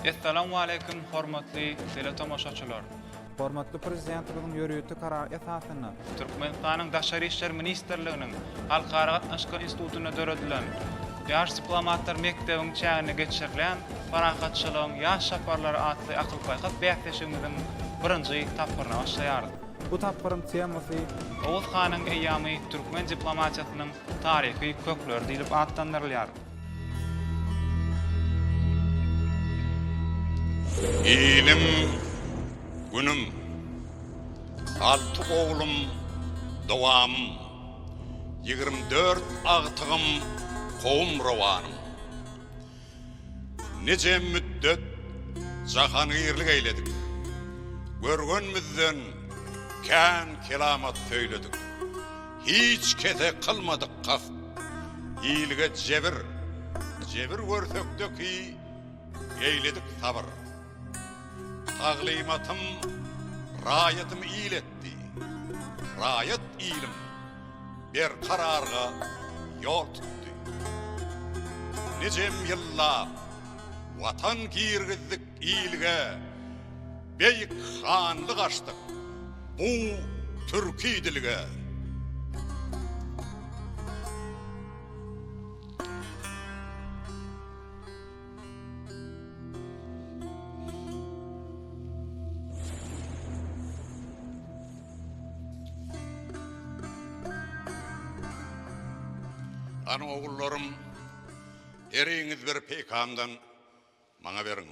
Essalamu aleýkum, hormatly teletomaşaçylar! Hormatly Prezidentimiziň ýörite karary esasynda Türkmenistanyň Daşary işler ministrliginiň Halkara gatnaşyklar institutynda döredilen Ýaş diplomatlar mekdebiň çäginde geçirilýän Parahatçylygyň ýaş çaparlary atly akyl-paýhas bäsleşigimiziň birinji tapgyryna başlaýarys. Bu tapgyryň temasy. Oguz hanyň eýýamy türkmen diplomatiýasynyň taryhy kökleri diýlip atlandyrylýar. Iliň, Günüň. Alty oglum, dowamym. Ýigrimi dört agtygym Kowumrowanym. Nije müddet jahangirlik eýledik. Görgenmizden kän kelamat söýledik. Hiç kese kylmadyk kast. Ilge jebir, jebir görsekde ki eýledik sabyr. Taglymatym raýatym il etdi, Raýat iliň berkararga ýol tutdy. Nijem ýyllap Watan girgizdik ilge, Beýik hanlyk açdyk bu türki dilge. Ana ogullarym, heriňiz bir peýkamdan maňa beriň.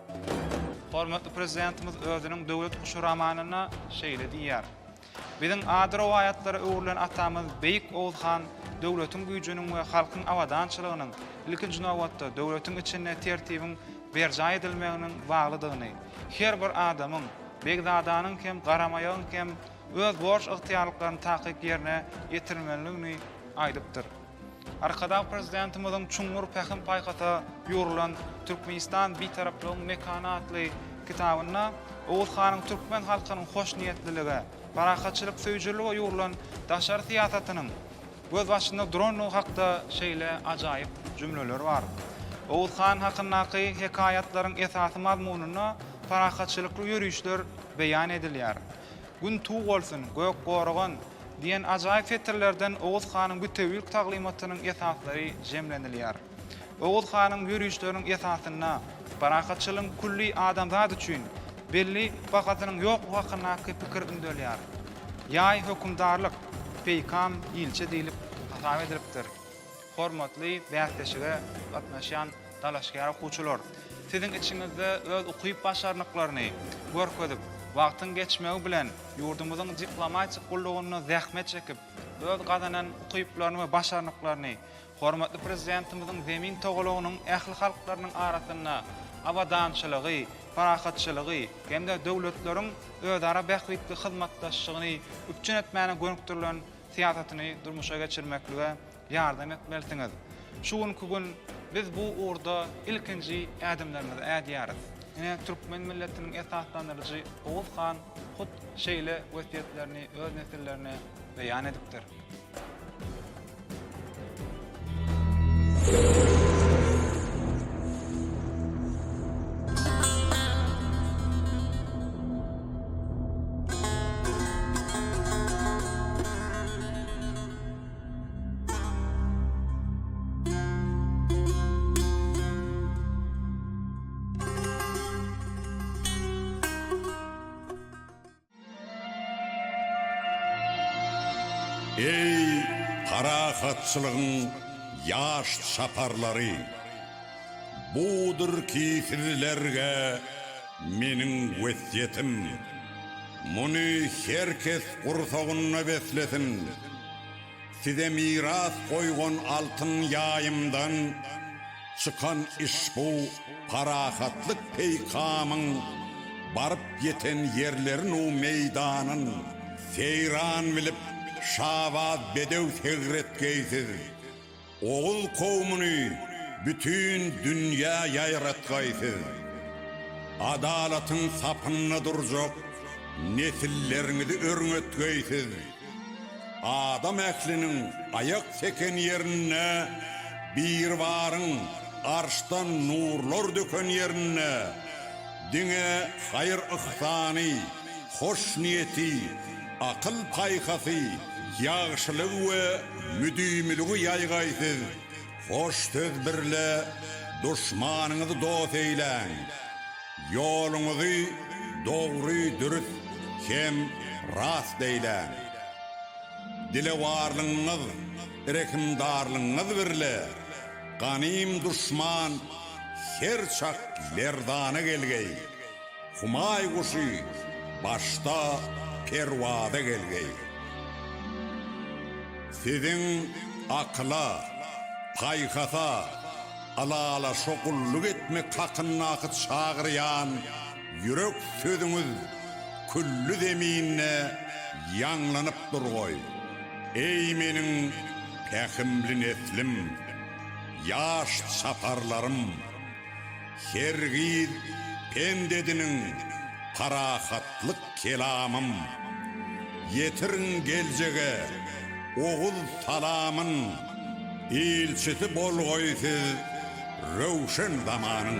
Hormatly Prezidentimiz özüniň Döwlet guşy romanynda şeýle diýýär, Biziň ady rowaýatlara öwrülen atamyz Beýik Oguz han döwletiň güýjüniň we halkyň abadançylygynyň, ilkinji nobatda, döwletiň içinde tertibiň berjaý edilmeginiň baglydygyny, her bir adamyň, begzadanyň hem, garamaýagyň hem öz borç-ygtyýarlyklaryny takyk ýerine ýetirmelidigini aýdypdyr. Arkadag Prezidentimiziň çuňňur pähim-paýhasa ýugrulan Türkmenistan, Bitaraplygyň mekany atly kitabynda Oguz hanyň türkmen halkynyň hoşniýetlilige, parahatçylyk söýüjilige ýugrulan daşary syýasatynyň gözbaşynda durandygy hakda şeýle ajaýyp jümleler bar, Oguz han hakyndaky hekaýatlaryň esasy mazmunynda parahatçylykly ýörişler beýan edilýär. Gün tug bolsun, gök goragan! diýen ajaýyp setirlerden Oguz hanyň bütewilik taglymatynyň esaslary jemlenilýär. Oguz hanyň ýörişleriniň esasynda parahatçylygyň külli adamzat üçin belli bahasynyň ýoklugy hakyndaky pikir ündelýär. Ýaý hökümdarlyk, peýkam ilçi diýlip hasap edilipdir. Hormatly bäsleşige gatnaşýan dalaşgär okuwçylar! Siziň içiňizde öz ukyp-başarnyklaryny görkezip, wagtyň geçmegi bilen ýurdumyzyň diplomatik gullugynda zähmet çekip, öz gazanan ukyplaryny we başarnyklaryny hormatly Prezidentimiziň Zemin togalagynyň ähli halklarynyň arasynda abadançylygy, parahatçylygy hem-de döwletleriň özara bähbitli hyzmatdaşlygyny üpjün etmäne gönükdirilen syýasatyny durmuşa geçirmeklige ýardam etmelisiňiz. Şu günki gün biz bu ugurda ilkinji ädimlerimizi ädýäris. Ine, türkmen milletiniň esaslandyryjy Oguz han hut şeýle wesýetlerini öz nesillerine beýan edipdir. Eý, parahatçylygyň ýaş çaparlary! Budur ki sizlerge meniň wesýetim. Muny her kes gursagynda beslesin! Size miras goýgan altyn ýaýymdan çykan işbu parahatlyk peýkamyň baryp ýeten ýerlerin u meýdanyn seýran bilip şabaz bedew segretgeýsiz Oguz kowmuny bütin dünýä ýaýratgaý siz! Adalatyň sapynda durjak nesilleriňizi örňetgeý siz! Adam ähliniň aýak seken ýerinde, Biribaryň arşdan nurlar döken ýerinde diňe haýyr-yhsany, hoşniýeti, akyl-paýhasy, ýagşylygy we müdimiligi ýaýgaýsyz hoş söz birle duşmanyňyzy dost eýläň. Ýoluňyzy dogry, dürs hem rast eýläň. Dilewarlygyňyz, rehimdarlygyňyz birle ganym duşman her çak lerzana gelgeý. Humaý guşy başda perwaza gelgeý. Siziň akyla, paýhasa, ylalaşa gulluk etmek hakyndaky çagyrýan ýürek sözüňiz külli zeminde ýaňlanyp durgoý, eý meniň pähimli neslim, ýaş çaparlarym! Her gyz pend ediniň, parahatlyk kelamym. Ýetiriň geljege oguz salamyn, ilçisi bolgaý siz röwşen zamanyň.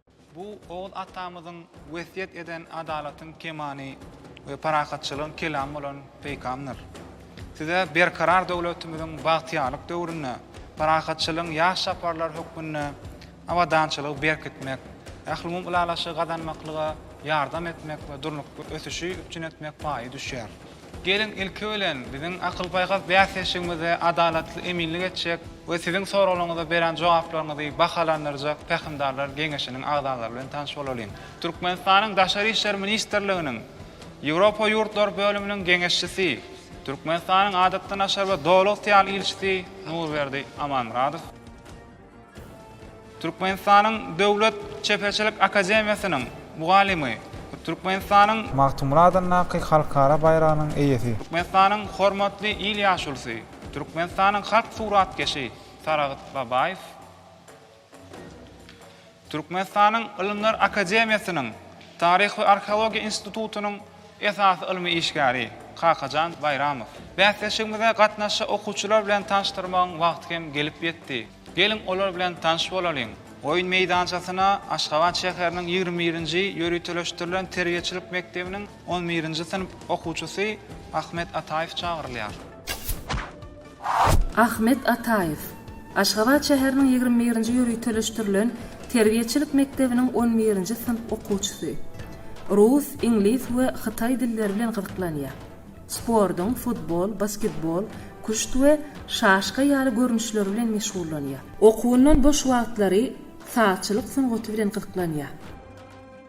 Bu Oguz atamyzyň wesýet eden adalatyň kemany we parahatçylygyň kelamy bolan peýkamdyr. Size Berkarar döwletimiziň bagtyýarlyk döwründe parahatçylygyň ýaş çaparlary hökmünde abadançylygy berkitmek, ählumumy ylalaşygy gazanmaklyga ýardam etmek we durnukly ösüşi üpjün etmek paýy düşýär. Geliň, ilki bilen, biziň akyl-paýhas bäsdeşligimizde adalatly eminlik etjek we siziň soraglaryňyza berän jogaplaryňyzy bahalandyrjak Pähimdarlar geňeşiniň agzalary bilen tanyş bolalyň. Türkmenistanyň Daşary işler ministrliginiň Ýewropa ýurtlary bölüminiň geňeşçisi, Türkmenistanyň Adatdan-aşar we Doly-ygtyýarly ilçisi Nurberdi Amanmyradow. Türkmenistanyň Döwlet çeperçilik akademiýasynyň mugallymy, Türkmenistanyň. Magtymguly adyndaky halkara baýragynyň eýesi. Türkmenistanyň hormatly il ýaşulusy, Türkmenistanyň halk suratkeşi Saragt Babaýew. Türkmenistanyň Ylymlar akademiýasynyň Taryh we arheologiýa institutynyň esasy ylmy işgäri Kakajan Baýramow. Bäsleşigimize gatnaşy okuwçylar bilen tanyşdyrmagyň wagty hem gelip ýetdi. Geliň, olar bilen tanyş bolalyň! Oýun meýdançasyna Aşgabat şäheriniň ýigrimi birinji ýöriteleşdirilen terbiýeçilik mekdebiniň On birinji synp okuwçysy Ahmet Ataýew çagyrylýar. Ahmet Ataýew, Aşgabat şäheriniň ýigrimi birinji ýöriteleşdirilen terbiýeçilik mekdebiniň on birinji synp okuwçysy. Rus, iňlis we hytaý dilleri bilen gyzyklanýar. Sportuň, futbol, basketbol, küşt we şaşka ýaly görnüşleri bilen meşgullanýar. Okuwyndan boş wagtlary sazçylyk sungaty bilen gyzyklanýar.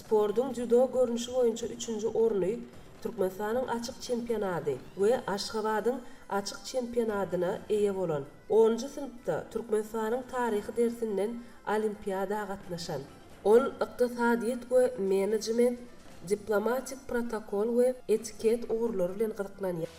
Sportuň dzýudo görnüşi boýunça üçünji orny Türkmenistanyň açyk çempionady we Aşgabadyň açyk çempionadyna eýe bolan, onunjy synpda Türkmenistanyň taryhy dersinden olimpiada gatnaşan. Ol ykdysadyýet we menejment, diplomatik protokol we etiket ugurlary bilen gyzyklanýar.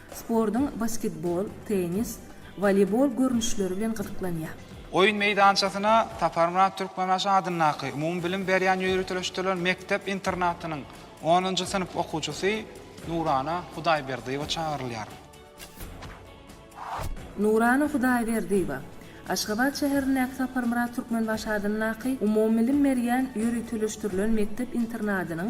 Sportuň basketbol, tennis, woleýbol görnüşleri bilen gyzyklanýar. Oýun meýdançasyna Saparmyrat Türkmenbaşy adyndaky umumybilim berýän ýöriteleşdirilen mekdep-internatynyň onunjy synp okuwçysy Nurana Hudaýberdiýewa çagyrylýar. Nurana Hudaýberdiýewa Aşgabat şäherindäki Saparmyrat Türkmenbaşy adyndaky umumybilim berýän ýöriteleşdirilen mekdep-internatynyň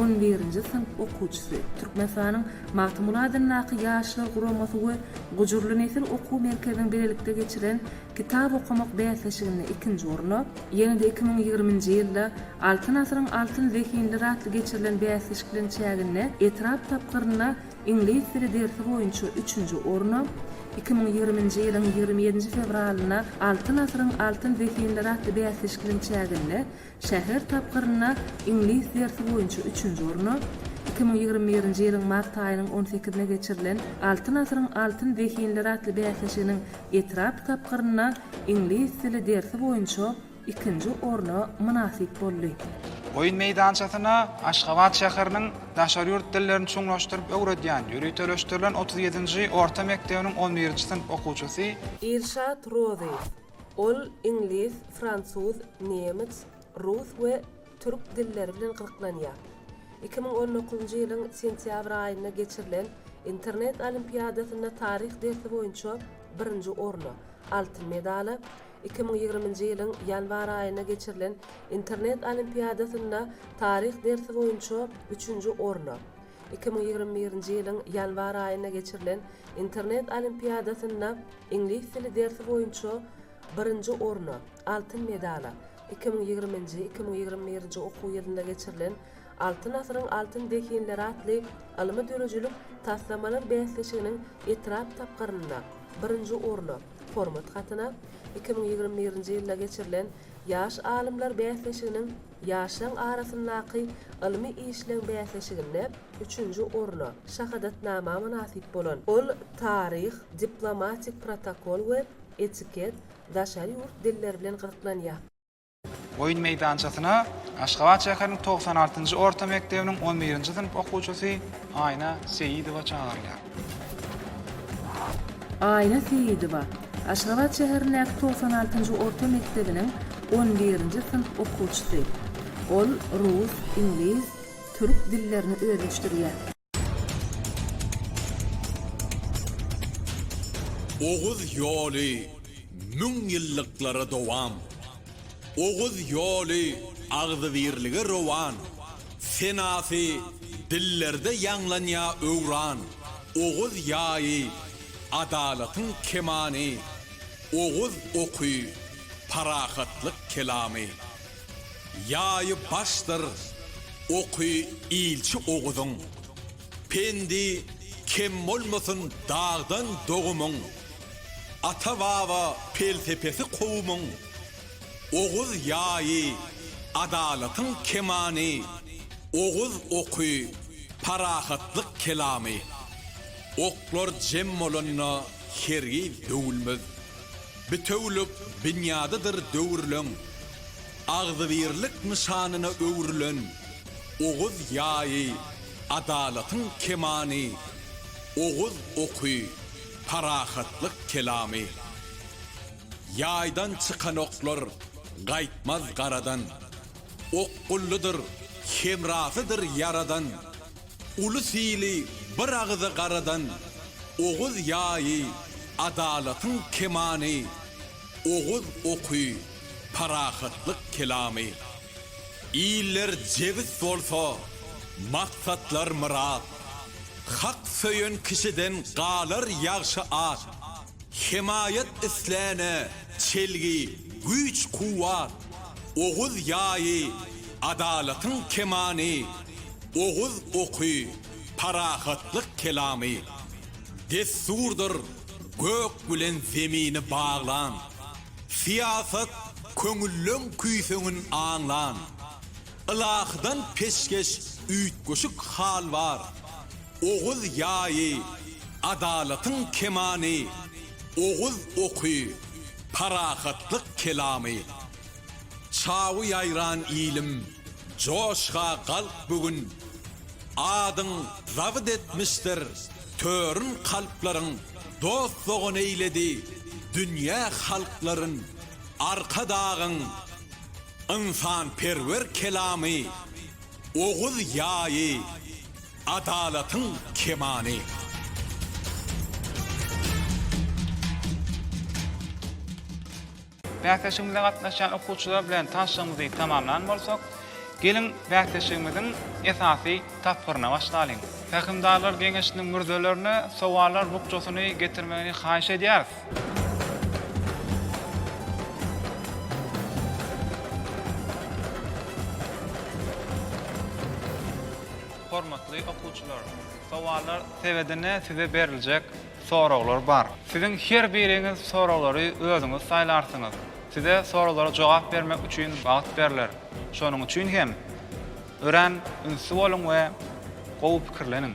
On birinji synp okuwçysy, Türkmenistanyň Magtymguly adyndaky Ýaşlar guramasy we Gujurly nesil okuw merkeziniň bilelikde geçiren Kitap okamak bäsleşiginde ikinji orna, ýene-de iki müň ýigriminji ýylda Altyn asyryň altyn zehinleri atly geçirilen bäsleşikleň çäginde etrap tapgyrynda iňlis dili dersi boýunça üçünji orna, iki müň ýigriminji ýylyň ýigrimi ýedinji fewralynda Altyn asyryň altyn zehinleri atly bäsleşikleň çäginde Şäher tapgyrynda iňlis dersi boýunça üçünji orna, iki müň ýigrimi birinji ýylyň mart aýynyň on sekizine geçirilen Altyn asyryň altyn zehinleri atly bäsleşiginiň etrap tapgyrynda iňlis dili dersi boýunça ikinji orna mynasyp boldy. Oýun meýdançasyna Aşgabat şäheriniň daşary ýurt dillerini çuňlaşdyryp öwredýän ýöriteleşdirilen otuz ýedinji orta mekdebiniň on birinji synp okuwçysy, Ilşat Rozyýew, Ol iňlis, fransuz, nemes, rus we türk dilleri bilen gyzyklanýar. Iki müň on dokuzynjy ýylyň sentýabr aýynda geçirilen Internet olimpiadasynda taryh dersi boýunça birinji orna, altyn medala, iki müň ýigriminji ýylyň ýanwar aýynda geçirilen Internet olimpiadasynda taryh dersi boýunça üçünji orna, iki müň ýigrimi birinji ýylyň ýanwar aýynda geçirilen Internet olimpiadasynda Iňlis dili dersi boýunça birinji orna, altyn medala, iki müň ýigriminji, iki müň ýigrimi birinji okuw ýylynda geçirilen Altyn asyryň altyn zehinleri atly ylmy-döredijilik taslamalar bäsleşiginiň etrap tapgyrynda birinji orna, hormat hatyna, iki müň ýigrimi birinji ýylda geçirilen Ýaş alymlar bäsleşiginiň ýaşlaň arasyndaky ylmy işleň bäsleşiginde, Üçünji orna, şahadatnama mynasyp bolan, ol taryh, diplomatik protokol we etiket, daşary ýurt dilleri bilen gyzyklanýar. Oýun meýdançasyna Aşgabat şäheriniň togsan altynjy orta mekdebiniň on birinji synp okuwçysy Aýna Seýidowa çagyrylýar. Aýna Seýidowa, Aşgabat şäherindäki togsan altynjy orta mekdebiniň on birinji synp okuwçysy. Ol rus, iňlis, Türk dillerini özleşdirýär. Oguz ýoly müň ýyllyklara dowam. Oguz ýoly agzybirlige rowan. Senasy dillerde ýaňlanýa öwran. Oguz ýaýy, adalatyň kemany. Oguz oky, parahatlyk kelamy. Ýaýy başdyr oky ilçi Oguzyň, Pendi kem bolmasyn dagdan dogumyň, Ata-baba pelsepesi kowumyň, Oguz ýaýy adalatyň kemany, Oguz oky parahatlyk kelamy. Oklar jem bolanda hergiz döwülmez. Bitewülik binýadydyr döwürleň agzybirlik nyşanyna öwrülen Oguz ýaýy, adalatyň kemany, Oguz oky, parahatlyk kelamy. Ýaýdan çykan oklar gaýtmaz garadan, Okgullydyr, hemrasydyr Ýaradan. Uly sili bir agyza garadan Oguz ýaýy, adalatyň kemany, Oguz oky, parahatlyk kelamy. Iller jebis bolsa, maksatlar myrat, Hak söýen kişiden galar ýagşy at, Hemaýat isläne çelgi, güýç-kuwwat, Oguz ýaýy, adalatyň kemany, Oguz oky, parahatlyk kelamy. Dessurdyr gök bilen zemini baglan, Syýasat, köňülleň küýseňin aňlan. Ylahydan peşgeş üýtgeşik hal bar, Oguz ýaýy, adalatyň kemany, Oguz oky, parahatlyk kelamy. Çawy ýaýran ilim, joşga galk bu gün, Adyň zabyt etmişdir törün kalplaryň, Dost-dogan eýledi dünýä halklaryn, Arkadagyň, ynsanperwer kelamy, Oguz ýaýy, adalatyň kemany. Bäsleşigimize gatnaşýan okuwçylar bilen tanyşygymyzy tamamlan bolsak, geliň bäsleşigimiziň esasy tapgyryna başlalyň. Pähimdarlar geňeşiniň mürzelerine sowallar bukjasyny getirmegini haýyş edýäris. Hormatly okuwçylar! Sowallar sebedine size beriljek soraglar bar. Siziň her biriňiz soraglary özüňiz saýlarsyňyz. Size soraglara jogap bermek üçin wagt berler. Şonuň üçin hem örän ünsli boluň we gowy pikirleniň.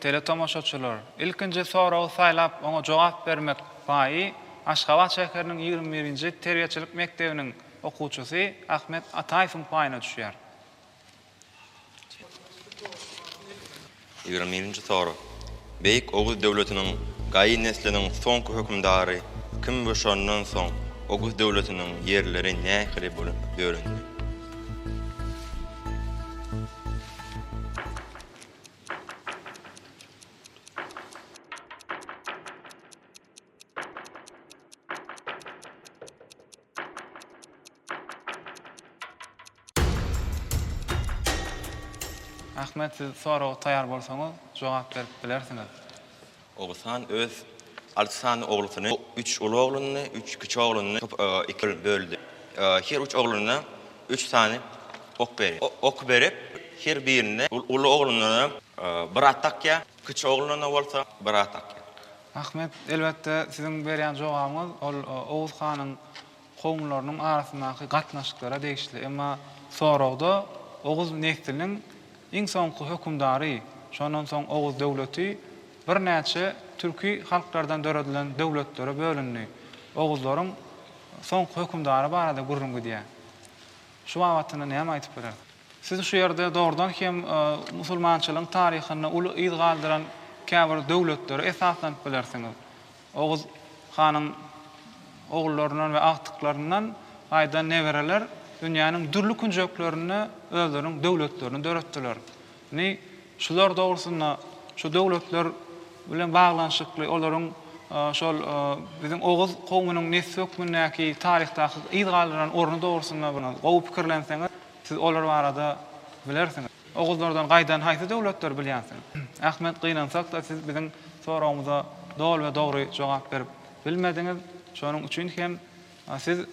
Teletomaşaçylar, ilkinji soragy saýlap, oňa jogap bermek paýy Aşgabat şäheriniň ýigrimi birinji terbiýeçilik mekdebiniň okuwçysy Ahmet Ataýewiň paýyna düşýär. Ýigrimi birinji sorag, Beýik Oguz döwletiniň gaýy nesliniň soňky hökümdary kim we şondan soň Oguz döwletiniň ýerleri nähili bölüp bölündi? Ahmet, siz soraga taýar bolsaňyz, jogap berip bilersiňiz. Oguzhan öz alty sany oglusyny, üç uly ogluny, üç kiçi ogluny iki böldi. Her üç ogluna üç sany ok berýär. Ok berip, her birine uly ogluna bir at dakýar, kiçi ogluna bolsa bir at dakýar. Ahmet, elbetde, siziň berýän jogabyňyz ol Oguz hanyň kowumlarynyň arasyndaky gatnaşyklara degişli. Emma soragda Oguz nesliniň iň soňky hökümdary, şondan soň Oguz döwleti birnäçe türki halklardan döredilen döwletlere bölündi. Oguzlaryň soňky hökümdary barada gürrüň gidýär. Şu babatynda näme aýdyp biler? Siz şu ýerde dogrudan hem musulmançylygyň taryhynda uly yz galdyran käbir döwletlere esaslanyp bilersiňiz. Oguz hanyň ogullaryndan we agtyklaryndan gaýdan nebereler dünýäniň dürli künjeklerinde özleriniň döwletlerini döretdiler. Indi şular dogrusynda, şu döwletler bilen baglanyşykly olaryň şol biziň oguz kowumynyň nesli hökmündäki taryhdaky yz galdyran orny dogrusynda gowy pikirlenseňiz, siz olar barada bilersiňiz. Oguzlardan gaýdan haýsy döwletdir bilýänsiň? Ahmet gynansak-da siz biziň soragymyza doly we dogry jogap berip bilmediňiz. Şonuň üçin hem siz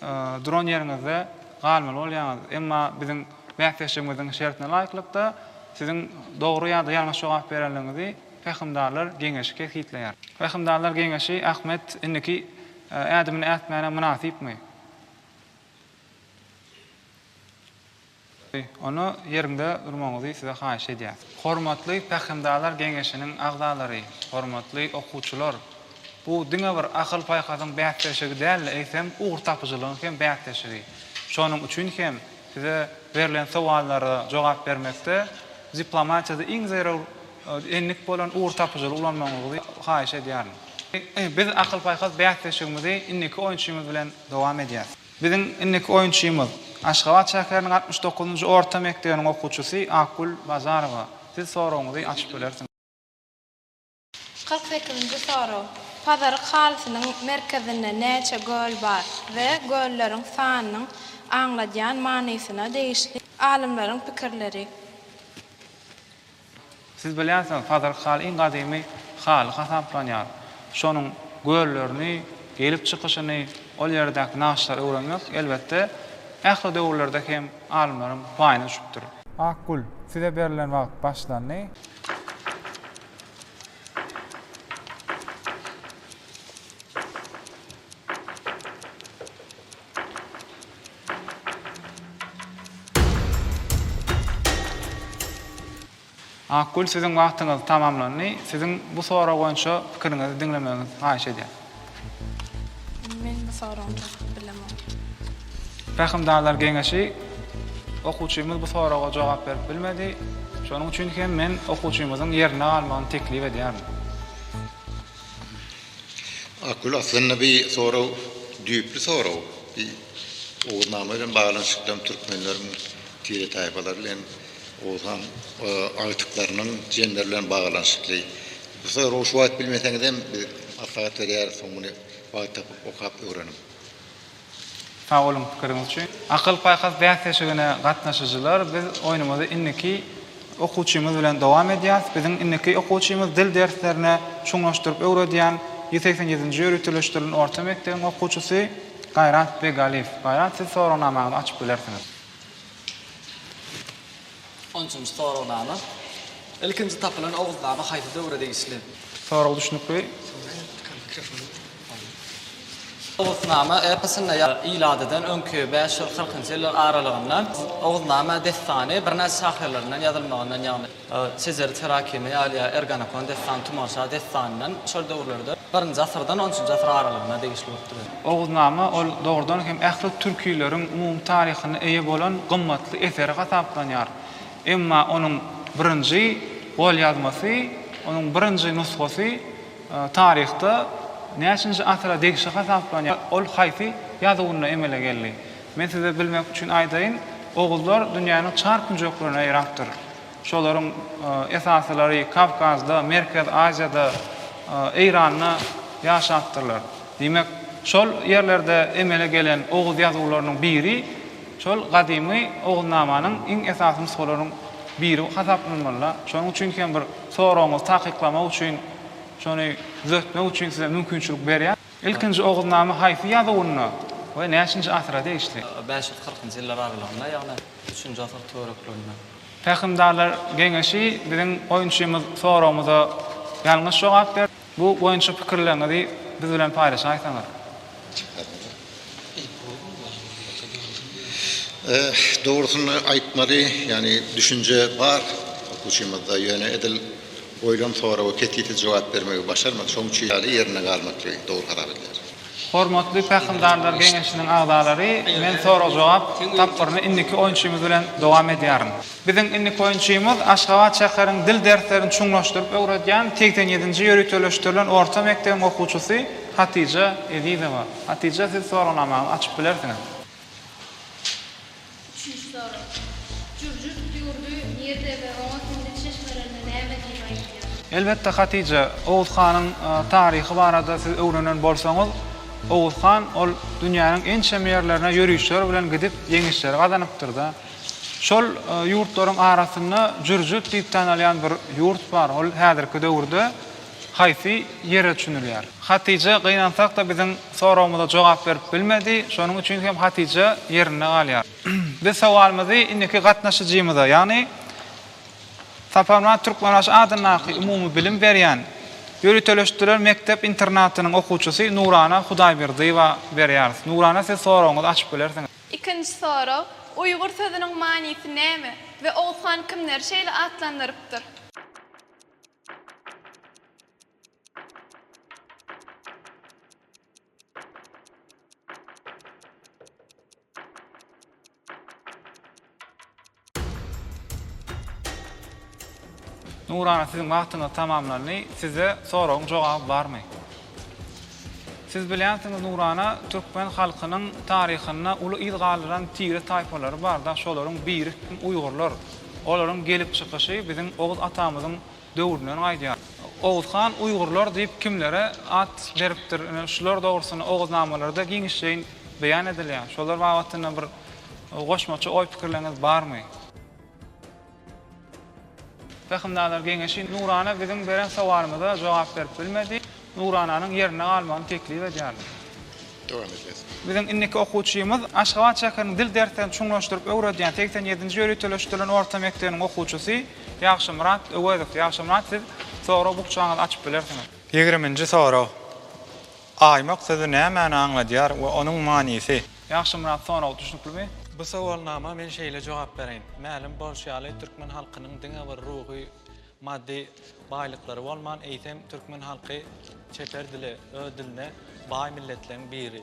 duran ýeriňizde galmaly bolýaňyz. Emma biziň bäsleşigimiziň şertine laýyklykda siziň dogry ýa-da ýalňyş jogap berenligiňizi Pähimdarlar geňeşi kesgitleýär. Pähimdarlar geňeşi Ahmet indiki ädimini ätmäne mynasypmy? Goý, onda ýeriňde durmagyňyzy size haýyş edýäs. Hormatly Pähimdarlar geňeşiniň agzalary, hormatly okuwçylar! Bu diňe bir akyl-paýhasyň bäsleşigi däl-de, eýsem, ugurtapyjylygyň hem bäsleşigi. Şonuň üçin hem size berlen sowallara jogap bermekde diplomatiýada iň zerur endik bolan ugurtapyjylygy ulanmagyňyzy haýyş edýärin. Biz akyl-paýhas bäsleşigimizi indiki oýunçymyz bilen dowam edýäs. Biziň indiki oýunçymyz, Aşgabat şäheriniň altmyş dokuzynjy orta mekdebiniň okuwçysy Akgül Bazarowa. Siz soragyňyzy açyp bilersiňiz. Kyrk sekizinji sorag, Pazaryk halysynyň merkezinde näçe göl bar we gölleriň sanynyň aňladýan manysyna degişli alymlaryň pikirleri. Siz bilýänsiňiz, Pazyryk Hal iň gadymy Hal hasaplanýar. Şonuň göllerini, gelip çykyşyny, ol ýerdäki nagyşlary öwrenmek, elbetde, ähli döwürlerde hem alymlaryň paýyna düşüpdir. Akgül, size berlen wagt başlandy. Akgül siziň wagtyňyz tamamlandy. Siziň bu sorag boýunça pikiriňizi diňlemeginizi haýyş edýän. Men bu soragyny çakyp bilemok. Pähimdarlar geňeşi okuwçymyz bu soraga jogap berip bilmedi. Şonuň üçin hem men okuwçymyzyň ýerinde galmagyny teklip edýärin. Akgül aslynda bi sorag düýpli sorag. Bi Oguznama bilen baglanyşykly hem türkmenleriň tire taýpalary bilen Oguz han agtyklarynyň jemleri bilen baglanyşykly. Bu soragy şu wagt bilmeseňizem biz maslahat berýäris soň muny wagt tapyp okap öwreniň. Sag boluň pikiriňiz üçin. Akyl paýhas bäsleşigine gatnaşyjylar biz oýnumyzy indiki okuwçymyz bilen dowam edýäs. Biziň indiki okuwçymyz dil derslerine çuňlaşdyryp öwredýän ýüz segsen ýedinji ýöriteleşdirilen orta mekdebiň okuwçysy Gaýrat Begaliýew. Gaýrat siz soragnamaňyzy açyp bilersiňiz. On üçünji soragnama. Ilkinji tapylan Oguznama haýsy döwre degişli? Sorag düşnükli. Oguznama eposynda ýazylan ilatydan öňki bäş ýüz kyrkynjy ýyllar aralygynda Oguznama dessany birnäçe şahyrlaryndan ýazylmagyndan, ýagny Şejeri Terakimi ýaly ýa Erganekon dessany Tumanşa dessanyndan şol döwürlerde birinji asyrdan on üçünji asyr aralygynda degişli bolup durýar. Oguznama ol dogrudan hem ähli türkileriň umumy taryhyna eýe bolan gymmatly eseri hasaplanýar. Emma onuň birinji golýazmasy, onuň birinji nusgasy taryhda näçinji asyra degişli hasaplanýar, ol haýsy ýazuwynda emele geldi? Men size bilmek üçin aýdaýyn, oguzlar dünýäniň çar künjeklerine ýaýrapdyr. Şolaryň esasylary Kawkazda, Merkezi Aziýada, Eýranda ýaşapdyrlar. Diýmek, şol ýerlerde emele gelen oguz ýazuwlarynyň biri şol gadymy Oguznamanyň iň esasy nusgalarynyň biri hasaplanmaly-da. Şonuň üçin hem bir soragyňyzy takyklamak üçin, şony düzetmek üçin size mümkinçilik berýän. Ilkinji Oguznama haýsy ýazuwynda we näçinji asyra degişli? Bäş ýüz kyrkynjy ýyllar aralygynda, ýagny üçünji asyr töwereklerinde. Pähimdarlar geňeşi biziň oýunçymyz soragymyza ýalňyş jogap berdi. Bu boýunça pikirleriňizi biz bilen paýlaşaýsaňyz. Dogrusyny aýtmaly, ýagny düşünje bar okuwçymyzda, ýöne edil goýlan soraga kesilti jogap bermegi başarmady. Şoň üçin ýaly ýerinde galmaklygy dogry hasap edýäris. Hormatly Pähimdarlar geňeşiniň agzalary, men sorag-jogap tapgyryny indiki oýunçymyz bilen dowam edýärin. Biziň indiki oýunçymyz Aşgabat şäheriň dil derslerini çuňlaşdyryp öwredýän segsen ýedinji ýöriteleşdirilen orta mekdebiň okuwçysy Hatyja Ezizowa. Hatyja, siz soragnamaňyzy açyp bilersiňiz. Üçünji sorag. Jürjürt ýurdy nirde we oňa siziň çeşmelerinde näme diýip aýdylýar? Elbetde Hatija, Oguz hanyň taryhy barada siz öwrenen bolsaňyz, Oguz han ol dünýäniň ençeme ýerlerine ýörişler bilen gidip ýeňişleri gazanypdyrda. Şol ýurtlaryň arasynda Jürjürt diýip tanalýan bir ýurt bar, ol häzirki döwürde, Haýsy ýere çünülýär? Hatije gynansakda biziň soragymyza jogap berip bilmedi, şonuň üçin hem Hatije ýerinde galýar. Biz sowalymyzy indiki gatnaşyjymyza, ýagny Saparmyrat Türkmenbaşy adyndaky umumybilim berýän ýöriteleşdirilen mekdep internatynyň okuwçysy Nurana Hudaýberdiýewa berýäris. Nurana siz soragyňyzy açyp bilersiňiz. Ikinji sorag, Uýgur sözüniň manysy näme we Oguzhan kimleri şeýle atlandyrypdyr? Nurana siziň wagtyňyz tamamlandy. Sizde soragyň jogaby barmy? Siz bilýänsiňiz Nurana, türkmen halkynyň taryhynda uly yz galdyran tire taýpalary bar da, şolaryň biri hem uýgurlar. Olaryň gelip çykyşy biziň Oguz atamyzyň döwründen gaýdýar. Oguz han uýgurlar diýip kimlere at beripdir, ine şular dogrusynda Oguznamalarda giňişleýin beýan edilýär. Şolar babatynda bir goşmaça oý-pikirleriňiz barmy? Pähimdar geňeşi Nurana biziň beren sowalymyza jogap berip bilmedi. Nurananyň ýerinde galmagyny teklip edýärin. Dowam edýäs. Biziň indiki okuwçymyz Aşgabat şäheriniň dil derslerini çuňlaşdyryp öwredýän segsen ýedinji ýöriteleşdirilen orta mekdebiniň okuwçysy Ýagşymyrat Öwezow. Ýagşymyrat siz sorag bukjaňyzy açyp bilersiňiz. Ýigriminji sorag. Aýmak sözi nämäni aňladýar we onuň manysy? Ýagşymyrat sorag düşnüklimi? Bu sowalnama men şeýle jogap bereýin. Mälim bolşy ýaly, türkmen halkynyň diňe bir ruhy, maddy baýlyklary bolman, eýsem, türkmen halky çeper dile, öz diline baý milletleriň biri.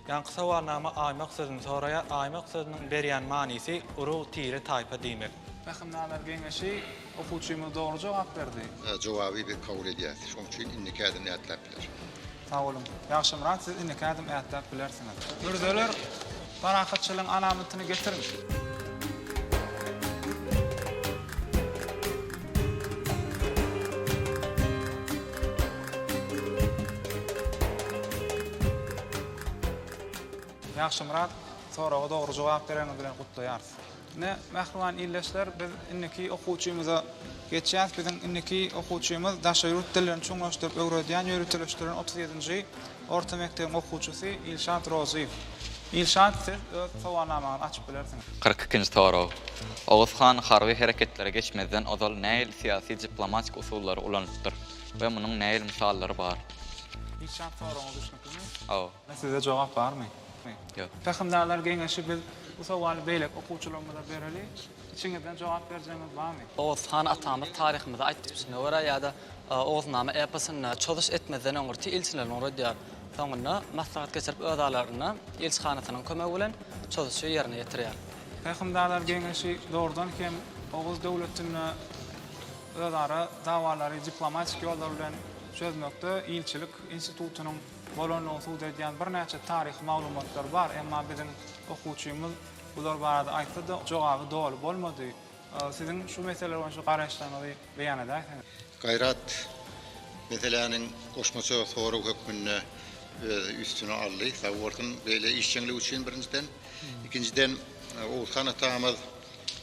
Ýaňky sowalnama aýmak sözüni soraýar. Aýmak sözüniň berýän manysy urug, tire, taýpa diýmek. Pähimnalar geňeşi, okuwçymyz dogry jogap berdi. Jogaby biz kabul edýäs. Şoň üçin indiki ädim nätläp? Sag boluň. Ýagşymyrat siz indiki ädim ätläp bilersiňiz. Mürzeler parahatçylygyň alamatyny getiriň. Ýagşymyrat soraga dogry jogap bereňiz bilen gutlaýarys. Ine, mähriban ildeşler, biz indiki okuwçymyza geçýäs. Biziň indiki okuwçymyz daşary ýurt dillerini çuňlaşdyryp öwredýän ýöriteleşdirilen otuz ýedinji orta mekdebiň okuwçysy Ilşat Rozyýew. Ilşat, siz öz sowalnamaňyzy açyp bilersiňiz. Kyrk ikinji sorag. Oguz han harby hereketlere geçmezden ozal nähili syýasy-diplomatik usullary ulanypdyr we munuň nähili mysallary bar? Ilşat, soragyňyz düşnüklimi? Hawa. Sizde jogap barmy? Ýok. Pähimdarlar geňeşi biz bu sowaly beýleki okuwçylarymyza bereli. Içiňizden jogap berjegiňiz barmy? Oguz han atamyz taryhymyzda aýtgysyna görä ýa-da Oguznama eposynda çozuş etmezden öň rti ilçilerini ugradýar. Soňunda maslahat geçirip öz aralarynda ilçihanasynyň kömegi bilen çozuşy ýerine ýetirýär. Pähimdarlar geňeşi dogrudan hem Oguz döwletinde özara dawalary diplomatik ýollar bilen çözmekde ilçilik institutynyň bolandygyny subut edýän birnäçe taryhy maglumatlar bar, emma biziň okuwçymyz bular barada aýtsa-da, jogaby doly bolmady. Siziň şu mesele boýunça garaýyşlaryňyzy beýan edäýseňiz. Gaýrat meseläniň goşmaça sorag hökmünde öz üstüne aldy. Sag bolsun beýle işjeňligi üçin birinjiden. Ikinjiden, Oguzhan atamyz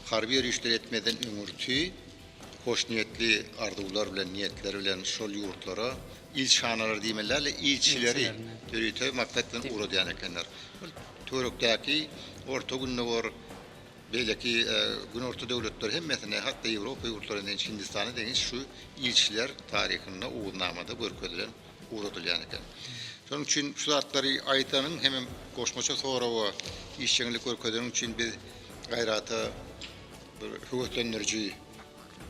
harby ýörişleri etmezden öňürti hoşniýetli arzuwlar bilen, niýetler bilen şol ýurtlara ilçihanalar diýmeli däl-de, ilçileri ýörite maksat bilen ugradýan ekenler. Ol töwerekdäki Orta Gündogar, beýleki Günorta döwletleri hemmesine, hat-da Ýewropa ýurtlaryna deňiç, Hindistana deňiç şu ilçiler taryhynda Oguznamada görkezilen, ugradylýan eken. Şonuň üçin şu zatlary aýdanyň hemem goşmaça soraga işjeňlik görkezeniň üçin biz Gaýrata bir höweslendiriji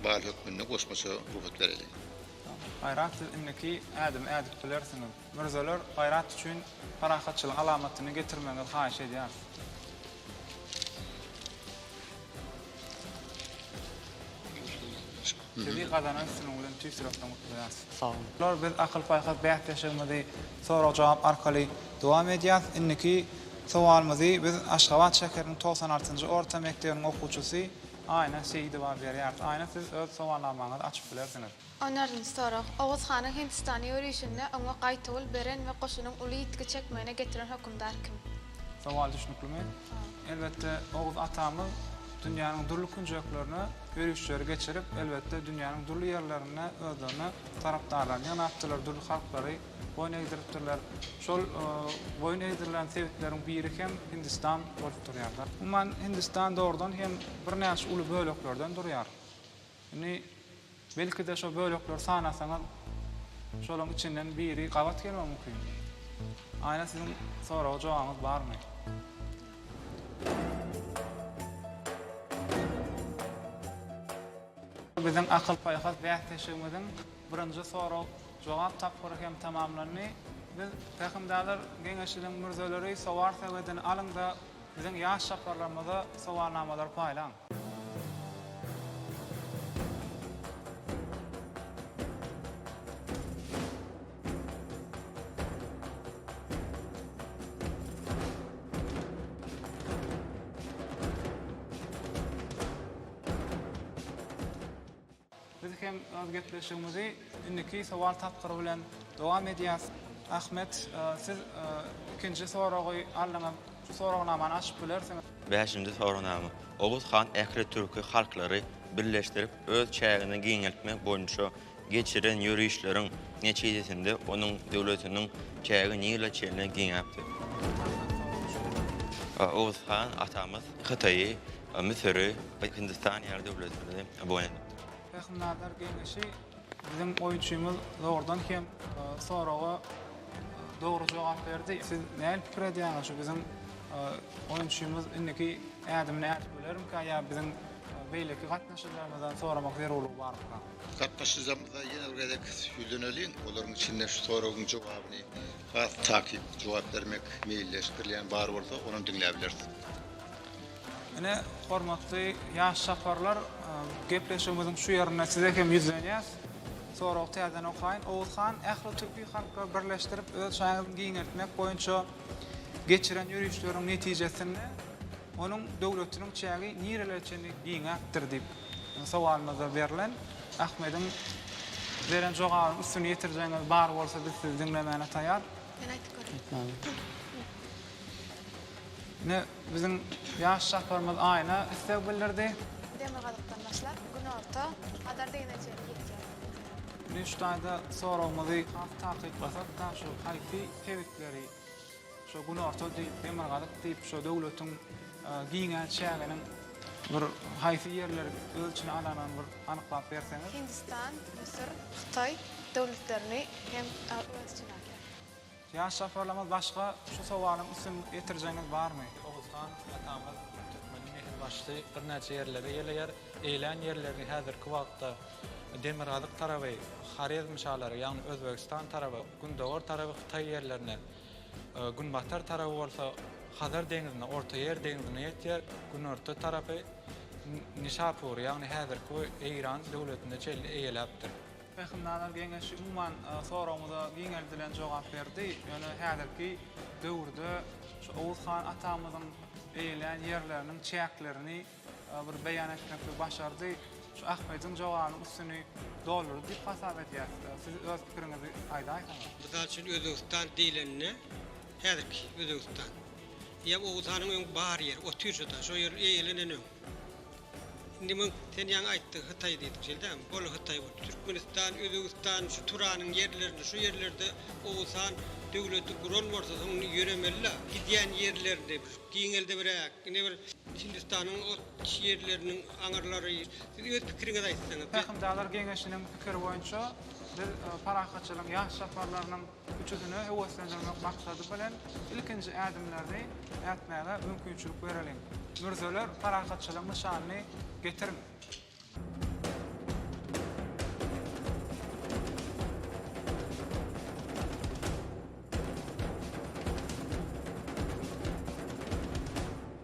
bal hökmünde goşmaça rugsat bereliň. Gaýrat siz indiki ädimi ädip bilersiňiz. Mürzeler Gaýrat üçin parahatçylyk alamatyny getirmegiňizi haýyş edýäris. Sizi gazanan üstünligiňiz bilen tüýs ýürekden gutlaýarys. Sag boluň. Biz akyl-paýhas bäsleşigimizi sorag-jogap arkaly dowam edýäris. Indiki sowalymyzy biz Aşgabat şäheriniň togsan altynjy orta mekdebiniň okuwçysy Aýna Seýidowa berýäris. Aýna siz öz sowalnamaňyzy açyp bilersiňiz. Oňaryn sorag. Oguz hanyň Hindistana ýörişinde oňa gaýtawul beren we goşunyň uly ýitgi çekmegine getiren hokumdar kim? Sowal düşnüklimi? Elbetde Oguz atamyz dünýäniň dürli künjeklerine ýörişleri geçirip, elbetde dünýäniň dürli ýerlerinde özlerine tarapdarlaryny ýygnapdylar, dürli halklary boýun egdiripdirler. Şol boýun egdirilen sebitleriň biri hem Hindistan bolup durýar. Umuman, Hindistan dogrudan hem birnäçe uly böleklerden durýar. Indi, belki-de, şo bölekleri sanasaňyz, şolaryň içinden biri gabat gelmegi mümkin. Aýna, siziň soraga jogabyňyz barmy? Biziň akyl-paýhas bäsdeşligimiziň Birinji sorag-jogap tapgyry hem tamamlandy. Biz, Pähimdarlar geňeşiniň mürzeleri Sowar sebedini alyň-da, biziň ýaş çaparlarymyza sowalnamalary paýlaň. Biz hem öz gepleşigimizi indiki sowal tapgyry bilen dowam edýäs. Ahmet, siz ikinji soragy aldyňyz. Şu soragnamany açyp bilersiňiz. Bäşinji soragnama. Oguz han ähli türki halklary birleşdirip, öz çägini giňeltmek boýunça geçiren ýörişleriň netijesinde onuň döwletiniň çägi Nile çenli giňäpdir. Oguz han atamyz Hytaýy Müsüri we Hindistany ýaly döwletleri boýun edipdir. Pähimnazar geňeşi biziň oýunçymyz dogrudan hem soraga dogry jogap berdi. Siz näl pikir edýäňiz şu biziň oýunçymyz indiki ädimini ädip bilermikä ýa biziň beýleki gatnaşyjymyzdan soramak zerurlygy barmyka? Gatnaşyjymyza ýene bir gezek ýüzleneliň, olaryň içinde şu soragyň jogabyny has takyk jogap bermek meýilleşdirilýän bar bolsa onam diňläbileris. Ine, hormatly ýaş çaparlar, gepleşigimiziň şu ýerinde size hem ýüzlenýäs. Soragy täzeden okaýyn. Oguz han, ähli türki halklary birleşdirip, öz şanyňyzy giňeltmek boýunça geçiren ýörişleriň netijesinde onuň döwletiniň çägi nirelere çenli giňäpdir diýip, sowalymyzda berlen. Ahmediň beren jogabynyň üstüni ýetirjegiňiz bar bolsa, biz sizi diňlemäne taýar. Men aýdyp göreyim. Aýt maňa. Ine, Biziň ýaş çaparymyz Aýna isleg bildirdi. Demirgazykdan başlap, günorta, Hazar degine çenli ýetýär. Mürşit daýza soragymyzy has takyklasak, taa şu haýsy sebitleri şu günorta diýip, demirgazyk diýip, şu döwletiň giňän çäginiň bir haýsy ýerleri öz içine alanyny bir anyklap berseňiz? Hindistan, Müsür, Hytaý döwletlerini hem öz içine alýar. Ýaş japarlarymyz başga şu sowalyň üstünlik ýetirjeginiz barmy? Oguzhan atamyz türkmeniň nesil başysy birnäçe ýerlere geleýär. Eýlän ýerlerini häzirki wagtda demirgazyk taraby Horezm şalary, ýagny Özbegistan taraby, gündogar taraby Hytaý ýerlerine, günbatar taraby bolsa Hazar deňizine, Ortaýer deňizine ýetýär, günorta tarapy Nişapury, ýagny häzirki Eýran döwletine çenli eýeläpdir. Pähimnalar geňeşi umuman soragymyza giňeldilen jogap berdi. Ýöne häzirki döwürde şu Oguz han atamyzyň eýelän ýerleriniň çäklerini bir beýan etmeklige başardy. Şu Ahmediň jogabynyň üstüni doldurdy diýip hasap edýäs. Siz öz pikiriňizi aýdaýsaňyz. Mysal üçin Özbegistan diýlende häzirki Özbegistan. Ýa Oguz hanyň öň bar ýeri, oturşy da, şo ýer eýelenen öň. Indi muň sen ýaňy aýtdyň hytaý diýdiň şeýle dälmi ol hytaý boldy türkmenistan özbegistan şu turanyň ýerlerinde şu ýerlerde owsan döwleti guran bolsa soň indi ýöremelila gidýän ýerlerini bir giňeldibräk ine bir hindistanyň ot ýerleriniň aňyrlary siz öz pikiriňizi aýtsaňyz. Pähimdarlar geňeşiniň pikiri boýunça biz parahatçylygyň ýaş çaparlarynyň Üçüsine höweslendirmek maksady bilen ilkinji ädimlerini ätmäge mümkinçilik bereliň. Mürzeler parahatçylygyň nyşanyny getiriň.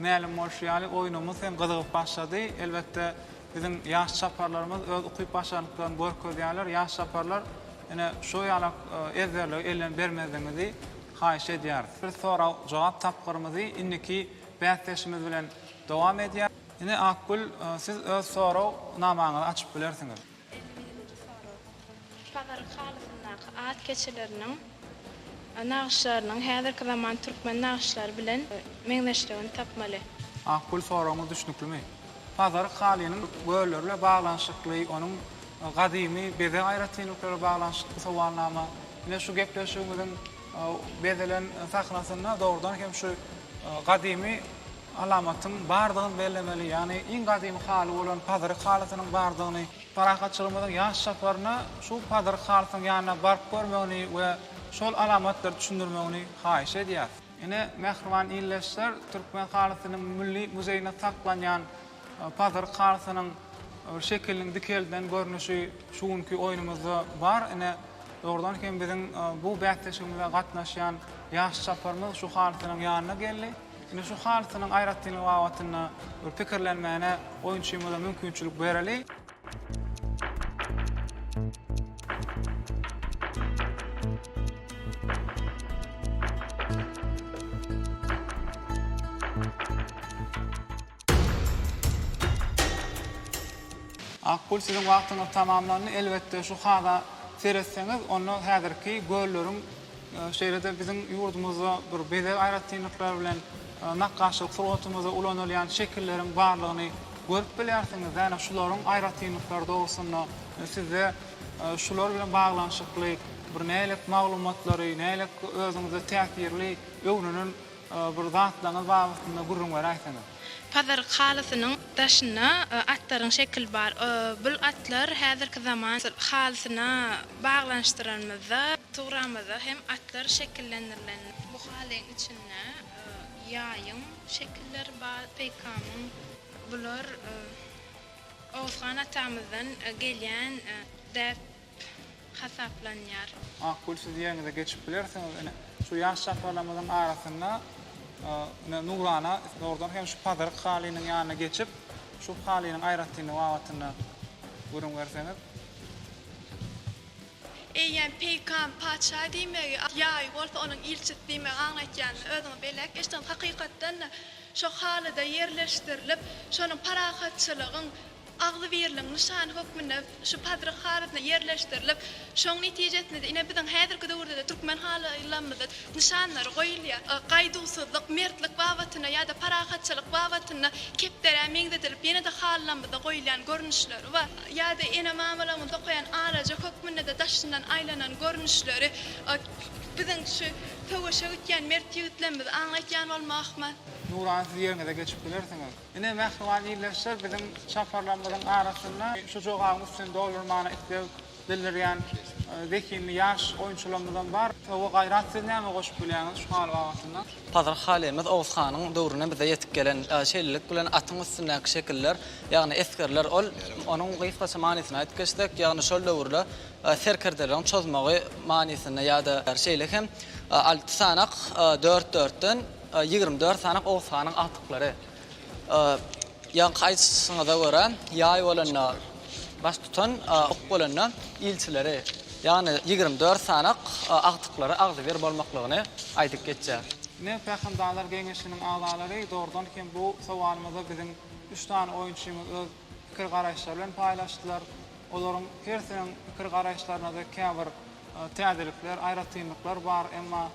Mälim bolşy ýaly, oýnumyz hem gyzygyp başlady. Elbetde, biziň ýaş çaparlarymyz öz ukyp-başarnyklaryny görkezýärler. Ýaş çaparlar, ine, şu ýalak ezberlige elden bermezligiňizi haýyş edýäris. Biz sorag-jogap tapgyrymyzy indiki bäsdeşimiz bilen dowam edýäris. Ine, Akgül, siz öz sorag-namaňyzy açyp bilersiňiz. Pazaryň halysyndaky at keçeleriniň nagyşlarynyň häzirki zaman türkmen nagyşlary bilen meňzeşligini tapmaly. Akgül soragyňyz düşnüklimi? Pazaryk halynyň gölleri bilen baglanyşykly, onuň gadymy bezeg aýratynlyklary bilen baglanyşykly sowalnama. Ine şu gepleşigimiziň bezelen sahnasynda dogrudan hem şu gadymy alamatyň bardygyny bellemeli, ýagny iň gadymy haly bolan pazyryk halysynyň bardygyny, parahatçylygymyzyň ýaş çaparyna şu pazyryk halysynyň ýanyna baryp görmegini we şol alamatlary düşündirmegini haýyş edýäris. Ine, mähriban ildeşler, Türkmen halysynyň Milli muzeýinde saklanýan pazyryk halysynyň bir şekiliniň dikeldilen görnüşi şu günki oýnumyzda bar. Ine, dogrudan hem biziň bu bäsleşigimize gatnaşýan ýaş çaparymyz şu halysynyň ýanyna geldi. Ine şu halysynyň aýratynlygy babatynda bir pikirlenmäne oýunçymyza mümkinçilik bereli. Akgül siziň wagtyňyz tamamlandy. Elbetde şu haza seretseňiz, onda häzirki gölleriň, e, şeýle-de biziň ýurdumyzda bir bezeg aýratynlyklary bilen e, nakgaşlyk sungatymyzda ulanylýan şekilleriň barlygyny görüp bilýärsiňiz. Ýagny şularyň aýratynlyklary dogrusynda e, sizde e, şular bilen baglanyşykly bir nälik maglumatlary, nälik özüňize täsirli öwrenen Bir zatlaryňyz babatynda gürrüň beräýseňiz. Pazaryk halysynyň daşynda atlaryň şekili bar. Bul atlar häzirki zaman halysyna baglanyşdyranymyzda sugramyzda hem atlar şekillendirilen. Bu halyň içinde ýaýyň şekilleri bar, peýkamyň. Bular Oguzhan atamyzdan gelýän däp. hasaplanýar. Makul siz ýeriňize geçip bilersiňiz ine şu ýaş çagalarymyzyň arasynda ine Nurana zordan hem şu pazyryk halynyň ýanyna geçip şu halynyň aýratynlygy babatynda gürrüň berseňiz. Eýýäm peýkam patyşa diýmegi ýaýy bolsa onuň ilçisi diýmegi aňlatýandyr özüňiz belläp geçdiňiz hakykatdan-da şo halyda ýerleşdirilip şonuň parahatçylygyň Agzybirligiň nyşany hökmünde şu Pazyryk halysyna ýerleşdirilip, şoň netijesinde-de ine biziň häzirki döwürde-de türkmen halylarymyzda nyşanlary goýulýar. Gaýduwsyzlyk, mertlik babatynda ýa-da parahatçylyk babatynda kepderä meňzedilip ýene-de halylarymyzda goýulýan görnüşleri bar. Ýa-da ene-mamalarymyz dokaýan alaja hökmünde-de daşyndan aýlanan görnüşleri biziň şu söweşe gitýän mert ýigitlerimizi aňlatýan bolmazmy? Nuran siz ýeriňize geçip bilersiňiz. Ine, mähriban ildeşler, biziň çaparlarymyzyň arasynda şu jogabyň üstüni doldurmagyna isleg bildirýän zehinli ýaş oýunçylarymyzam bar. Sowa Gaýrat, siz näme goşup bilýäňiz şu haly babatynda? Pazyr halymiz Oguz hanyň döwründen bize ýetip gelen. Şeýlelik bilen atyň üstündäki şekiller, ýagny esgerler, ol onuň gysgaça manysyny aýdyp geçsek, ýagny şol döwürde serkerdeleriň çozmagy manysynda ýa-da şeýle hem alty sanak dört-dörtden, Ýigrimi dört sany Oguz hanyň agtyklary ýaňky aýdyşyňyza görä, ýaý bolanda baştutan, ok bolanda ilçileri, ýagny ýigrimi dört sany agtyklary agzybir bolmaklygyny aýdyp geçýär. Ine, Pähimdarlar geňeşiniň agzalary, dogrudan hem bu sowalymyza biziň üç sany oýunçymyz öz pikir-garaýyşlary bilen paýlaşdylar. Olaryň hersiniň pikir-garaýyşlaryna-da käbir Täzelikler, aýratynlyklar bar, emma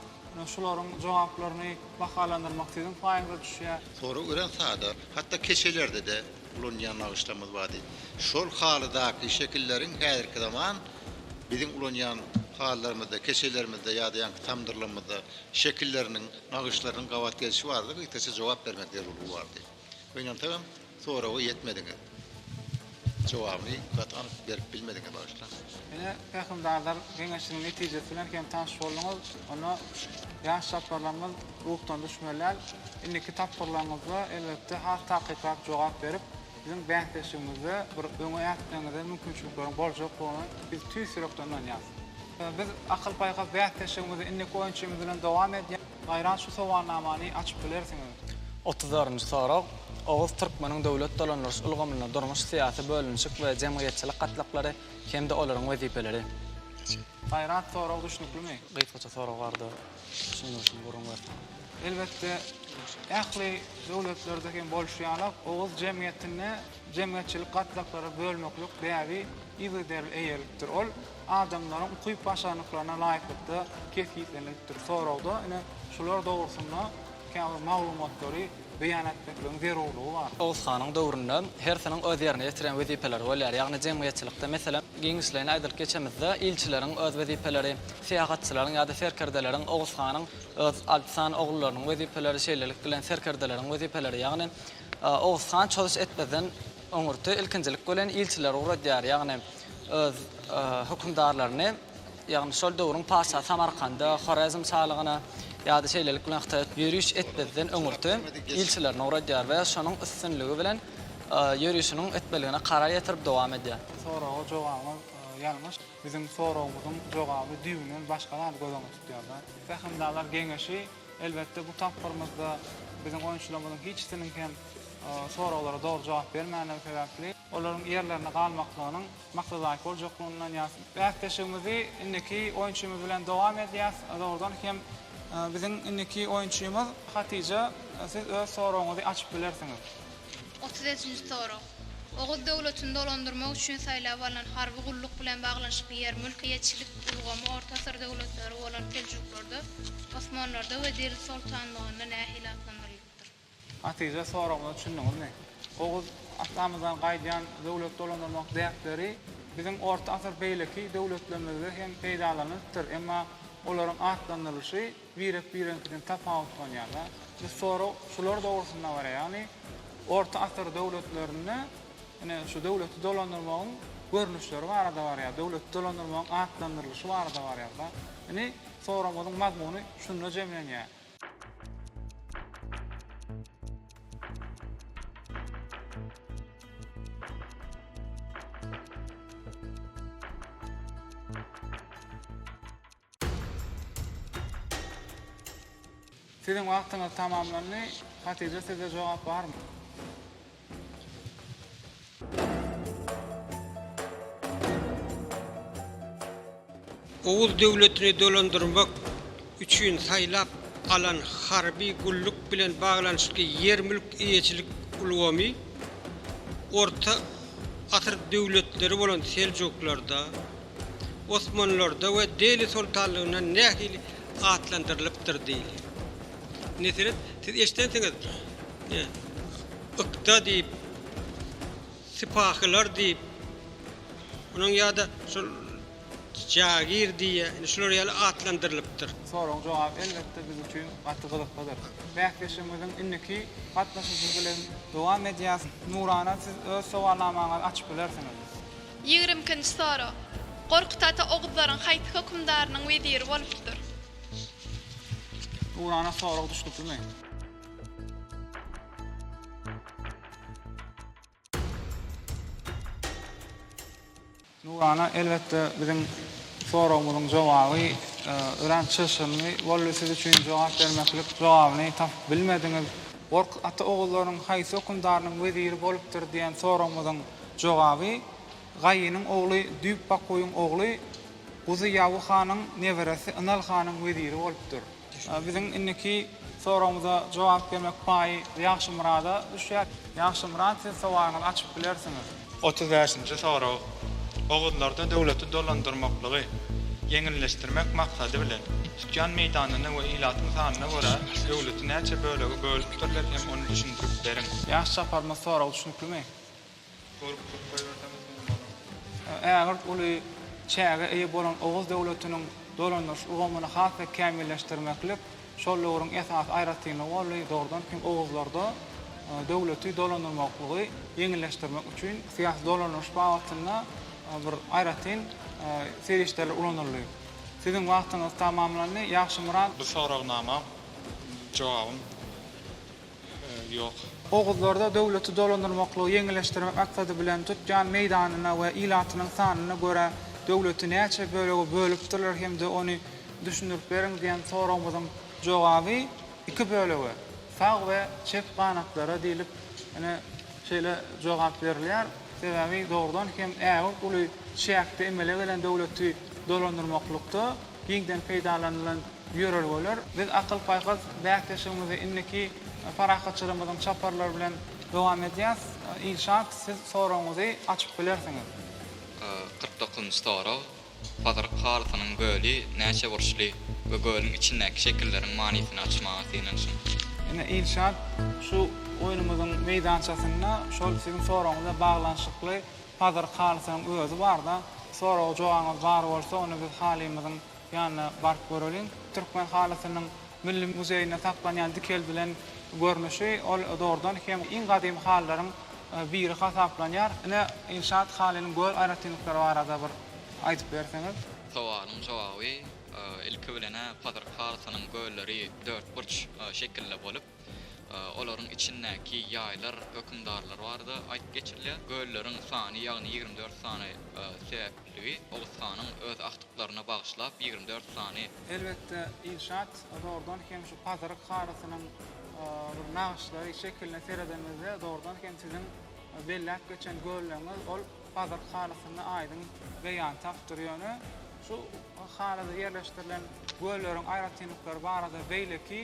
şularyň jogaplaryny bahalandyrmak siziň paýyňyza düşýär. Sorag örän sada, hatda keçelerde-de ulanýan nagyşlarymyz bardy. Şol halydaky şekilleriň häzirki zaman biziň ulanýan halylarymyzda, keçelerimizde ýa-da ýaňky tamdyrlarymyzda şekilleriniň, nagyşlarynyň gabat gelşi barada gysgaça jogap bermek zerurlygy bardy. Gynansagam soraga ýetmediňiz. Jogabyny gaty anyk berip bilmediňiz bagyşlaň. Ine pähimdarlar geňeşiniň netijesi bilen hem tanyş bolduňyz. Onda ýaş çaparlarymyz ruhdan düşmeliler. Indiki tapgyrlaryňyzda elbetde has takyklap jogap berip biziň bäsdeşligimizde bir öňe ätmegiňize mümkinçilikleriň boljakdygyna biz tüýs ýürekden ynanýas. Biz akyl-paýhas bäsdeşligimizi indiki oýunçymyz bilen dowam edýäs. Gaýrat şu sowalnamany açyp bilersiňiz. Otuz birinji sorag, Oguz türkmeniň döwlet dolandyryş ulgamynda durmuş, syýasy bölünişik we jemgyýetçilik gatlaklary hem-de olaryň wezipeleri. Gaýrat sorag düşnüklimi? Gysgaça sorag barada düşündirişini gürrüň berseň. Elbetde, ähli döwletlerde hem bolşy ýala, oguz jemgyýetinde jemgyýetçilik gatlaklary bölmeklik däbi yzygiderli eýeripdir. Ol adamlaryň ukyp-başarnyklaryna laýyklykda kesgitlenilipdir. Soragda, ine, şular dogrusynda käbir maglumatlary beýan etmekligiň zerurlygy bar. Oguz hanyň döwründe hersiniň öz ýerine ýetiren wezipeleri bolýar, ýagny jemgyýetçilikde, meselem, giňişleýin aýdylyp geçemizde, ilçileriň öz wezipeleri, syýahatçylaryň ýa-da serkerdeleriň, Oguz hanyň öz alty sany ogullarynyň wezipeleri, şeýlelik bilen serkerdeleriň wezipeleri, ýagny Oguz han çozüş etmezden, Öňürti ilkinjilik bilen ilçileri ugradýar, ýagny öz hökümdarlaryny, ýagny şol döwrüň patyşasy Samarkanda, Horezm şalygyna ýa-da şeýlelik bilen Hytaýa ýöriş etmezden öňürti ilçilerini ugradýar we şonuň üstünligi bilen ýörişiniň etmeligine karar ýetirip dowam edýär. Bu soraga jogabyňyz ýalňyş. Biziň soragymyzyň jogaby düýbünden başga zady göz öňünde tutýar-da. Pähimdarlar geňeşi. Elbetde bu tapgyrymyzda biziň oýunçylarymyzyň hiçisiniň hem soraglara dogry jogap bermändigi sebäpli, olaryň ýerlerinde galmaklygynyň maksadaýk boljakdygyny ynanýas. Bäsleşigimizi indiki oýunçymyz bilen dowam edýäs. Dogrudan hem biziň indiki oýunçymyz Hatyja siz öz soragyňyzy açyp bilersiňiz. Otuz öjünji sorag. Oguz döwletini dolandyrmak üçin saýlap alnan harby gulluk bilen baglanyşykly ýer-mülk eýeçilik ulgamy orta asyr döwletleri bolan seljuklarda, osmanlarda we Delil soltanlygynda nähili atlandyrylypdyr? Hatyja soragyna düşündiňizmi? Oguz atamyzdan gaýdýan döwlet dolandyrmak däpleri biziň orta asyr beýleki döwletlerimizde hem peýdalanylypdyr, emma olaryň atlandyrylyşy Birek bireňkiden tapawutlanýarlar. Biz sorag şular dogrusynda bar, ýagny orta asyr döwletlerinde ine şu döwleti dolandyrmagyň görnüşleri barada barýar, döwleti dolandyrmagyň atlandyrylyşy barada barýarda. Ine soragymyzyň mazmuny şunda jemlenýär. Siziň wagtyňyz tamamlandy. Hatyja sizde jogap barmy? Oguz döwletini dolandyrmak üçin saýlap alan harby gulluk bilen baglanyşykly ýer-mülk eýeçilik ulgamy orta asyr döwletleri bolan seljuklarda, Osmanlarda we Deli soltanlygynda nähili atlandyrylypdyr diýli. Meselem, siz eşidensiňiz, ne, ykda diýip, sypahylar diýip, onuň ýa-da şol jagir diýýär, indi şular ýaly atlandyrylypdyr. Soragyň jogaby, elbetde, biz üçin gaty gyzyklydyr. Bäsleşigimiziň indiki gatnaşyjy bilen dowam edýäs. Nurana, siz öz sowalnamaňyzy açyp bilersiňiz. Ýigrimi ikinji sorag. Gorkut ata oguzlaryň haýsy hökümdarynyň weziri bolupdyr? Nurana sorag düşnüklimi? Nurana elbetde biziň soragymyzyň jogaby örän çylşyrymly boldy siz üçin jogap bermeklik jogabyny tapyp bilmediňiz. Gorkut ata oguzlaryň haýsy hökümdarynyň weziri bolupdyr diýen soragymyzyň Jogaby, Gaýynyň ogly Düýp Bakuýyň ogly Guzy Ýawy hanyň neberesi Ynal hanyň weziri bolupdyr. Biziň indiki soragymyza jogap bermek paýy Ýagşymyrada düşýär. Ýagşymyrat, siz sowalyňyzy açyp bilersiňiz. Otuz bäşinji sorag, Oguzlarda döwleti dolandyrmaklygy ýeňilleşdirmek maksady bilen, tutýan meýdanyna we ilatyň sanyna görä döwleti näçe bölege bölüpdirler hem ony düşündirip beriň. Ýaş çaparymyz soragy düşnüklimi? Ägirt uly çäge eýe bolan Oguz döwletiniň dolandyryş ulgamyny has-da kämilleşdirmeklik şol döwrüň esasy aýratynlygy boldy, dogrudan hem oguzlarda döwleti dolandyrmaklygy ýeňilleşdirmek üçin syýasy dolandyryş babatynda bir aýratyn serişdeler ulanyldy. Siziň wagtyňyz tamamlandy, Ýagşymyrat. Bu soragnama jogabym. Ýok. Oguzlarda döwleti dolandyrmaklygy ýeňilleşdirmek aksady bilen tutýan meýdanyna we ilatynyň sanyna görä döwleti näçe bölege bölüpdirler hem-de ony düşündirip beriň diýen soragymyzyň jogaby iki bölege, sag we çep ganatlara diýlip ine şeýle jogap berilýär. Sebäbi dogrudan hem ägirt uly çäkde emele gelen döwleti dolandyrmaklykda, Giňden peýdalanylan ýörelgeler. Biz akyl-paýhas bäsleşigimizi indiki parahatçylygymyzyň çaparlary bilen dowam edýäs. Ilşat, siz soragyňyzy açyp bilersiňiz. Kyrk dokuzynjy sorag, Pazyryk halysynyň göli näçe burçly we gölüň içindäki şekilleriň manysyny açmaga synanyşyň. Ine, Ilşat, şu oýnumyzyň meýdançasynda şol siziň soragyňyz bilen baglanyşykly Hazar halysynyň özi barda, soraga jogabyňyz bar bolsa, onda biz halymyzyň ýanyna baryp göreliň. Türkmen halysynyň Milli muzeýinde saklanýan dikeldilen görnüşi, ol dogrudan hem iň gadymy halylaryň biri hasaplanýar. Ine, Ilşat halynyň gör aýratynlyklary barada bir aýdyp berseňiz. Sowalyň jogaby, Ilki bilen-ä, Hazar halysynyň görleri dörtburç şekilde bolup, Olaryň içindäki ýaýlar hökümdarlar barada aýdyp geçirilýär. Gölleriň sany, ýagny ýigrimi dört sany sebäpligi Oguz hanyň öz agtyklaryna bagyşlap ýigrimi dört sany. Elbetde, inşaat zordan hem şu pazyryk halysynyň bir nagyşlary, şekiline seredenimizde zordan hem siziň belläp geçen gölleriňiz ol Bazark halysynda aýdyň beýan tapdyr. Ýöne şu halyda ýerleşdirilen gölleriň aýratynlyklary barada beýleki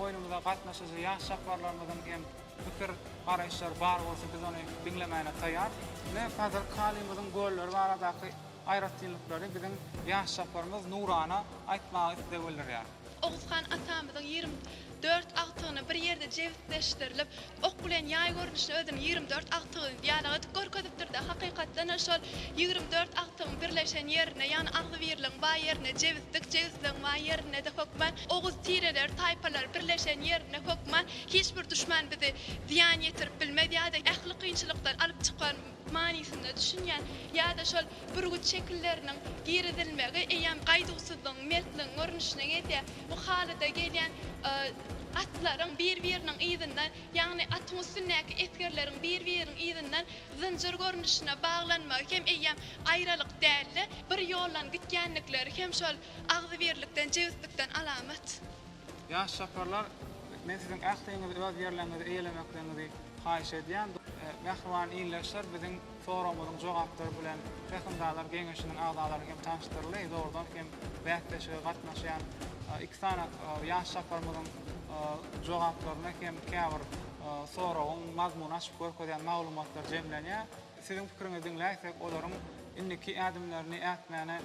oýnumyza gatnaşyjy ýaş çapbarlarymyzyň hem pikir garaýyşlary bar bolsa biz ony diňlemäne taýar. Ine Bazark halymyzyň gölleri baradaky aýratynlyklary biziň ýaş çapbarymyz Nurana aýtmagy isleg bildirýär. Oguzhan atamyzyň ýigrimi dört agtygyny bir ýerde jebisleşdirilip, ok bilen ýaý görnüşli özüniň ýigrimi dört agtygyny diýýän edip görkezipdir-de, hakykatdan-a şol ýigrimi dört agtygyň birleşen ýerine, ýagny agzybirligiň bar ýerine jebislik, jebisligiň bar ýerine-de hökman oguz tireleri, taýpalary birleşen ýerine hökman hiç bir duşman bizi zyýan ýetirip bilmez ýa-da ähli kynçylykdan alyp çykan manysynda düşünýän ýa-da şol bürgüt şekilleriniň girizilmegi eýýäm gaýduwsyzlygyň, mertligiň görnüşine gelýär. Bu halyda gelýän atlaryň bir-biriniň yzyndan, ýagny atyň üstündäki esgerleriň bir-biriniň yzyndan zynjyr görnüşine baglanmagy hem eýýäm aýralyk däl-de, bir ýoldan gitýändikleri hem şol agzybirlikden, jebislikden alamat. Ýaş çaparlar, men siziň ähliňizi öz ýerleriňizi eýelemekligiňizi haýyş edýän. Mähriban ildeşler biziň soragymyzyň jogaplary bilen Pähimdarlar geňeşiniň agzalary hem tanyşdyryldy. Dogrudan hem bäsleşige gatnaşýan iki sany ýaş çaparymyzyň jogaplaryna hem käbir soragyň mazmuny açyp görkezýän maglumatlar jemlenýär. Siziň pikiriňizi diňläýsek, olaryň indiki ädimlerini ätmäne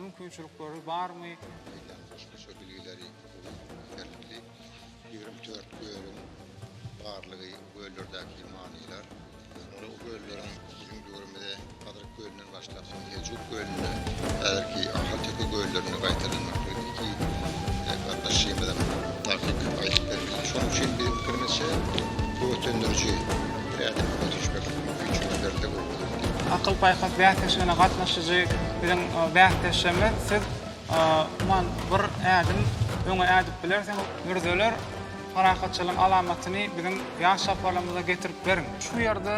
mümkinçilikleri barmy? Meýdan goşmaça bilgileri uly ýeterlikli. Ýigrimi dört gölüň barlygy, göllerdäki manylar. Şunda o gölleriň biziň döwrümize Hazret gölünden başlap, Sunhejuk kölüne, häzirki Ahalteke göllerine gaýtadan iki gatnaşyjymyzyň takyk aýdyp bermegi. Şonuň üçin biziň pikirimizçe, bu ötendiriji bir ädimi öňe süýşmek üçin ýerli bolmalydy. Akyl-paýhas bäsleşigine gatnaşyjy biziň bäsdeşimiz, siz umuman bir ädim öňe ädip bilersiňiz. Mürzeler parahatçylygyň alamatyny biziň ýaş çaparlarymyza getirip beriň. Şu ýerde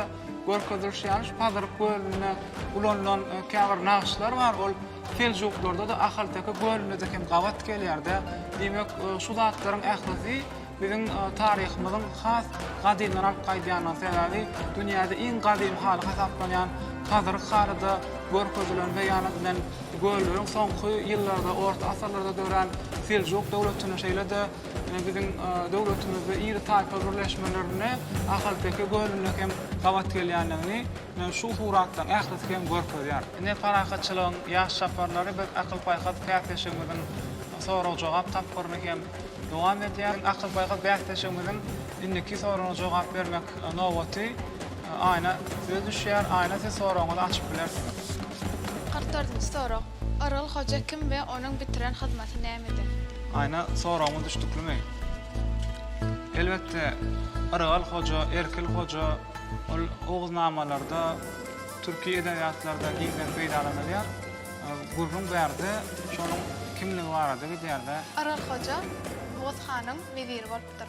Görkezilişi ýaly, şu Pazyryk gölünde ulanylan käbir nagyşlar bar, ol seljuklarda-da, ahalteke gölünde-de hem gabat gelýär-de. Diýmek, şu zatlaryň ählisi biziň taryhymyzyň has gadymdan alyp gaýdýandygyny, sebäbi dünýäde iň gadymy haly hasaplanýan Pazyryk haly-da görkezilen we ýa-da bilen gölleriň soňky ýyllarda, orta asyrlarda dörän Seljuk döwletinde, şeýle-de Biziň döwletimizde iri taýpa birleşmelerine Ahalteke gölünde hem gabat gelýändigini şu suratlaryň ählisi hem görkezýär. Ine parahatçylygyň ýaş çaparlary biz akyl-paýhas bäsleşigimiziň sorag-jogap tapgyryny hem dowam edýär. Akyl-paýhas bäsleşigimiziň indiki soragyna jogap bermek nobaty. Aýna söz düşýär. Aýna siz soragyňyzy açyp bilersiňiz. Kyrk dördünji sorag, Yrgul hoja kim we onuň bitiren hyzmaty nämede? Aýna soragymyz düşdüklimi? Elbetde Yrgal hoja, Erkil hoja ol oguznamalarda, türki edebiýatlarda giňden peýdalanylýar. Gürrüň bärde şonuň kimligi barada gidýärde. Yrgal hoja Oguz hanyň weziri bolupdyr.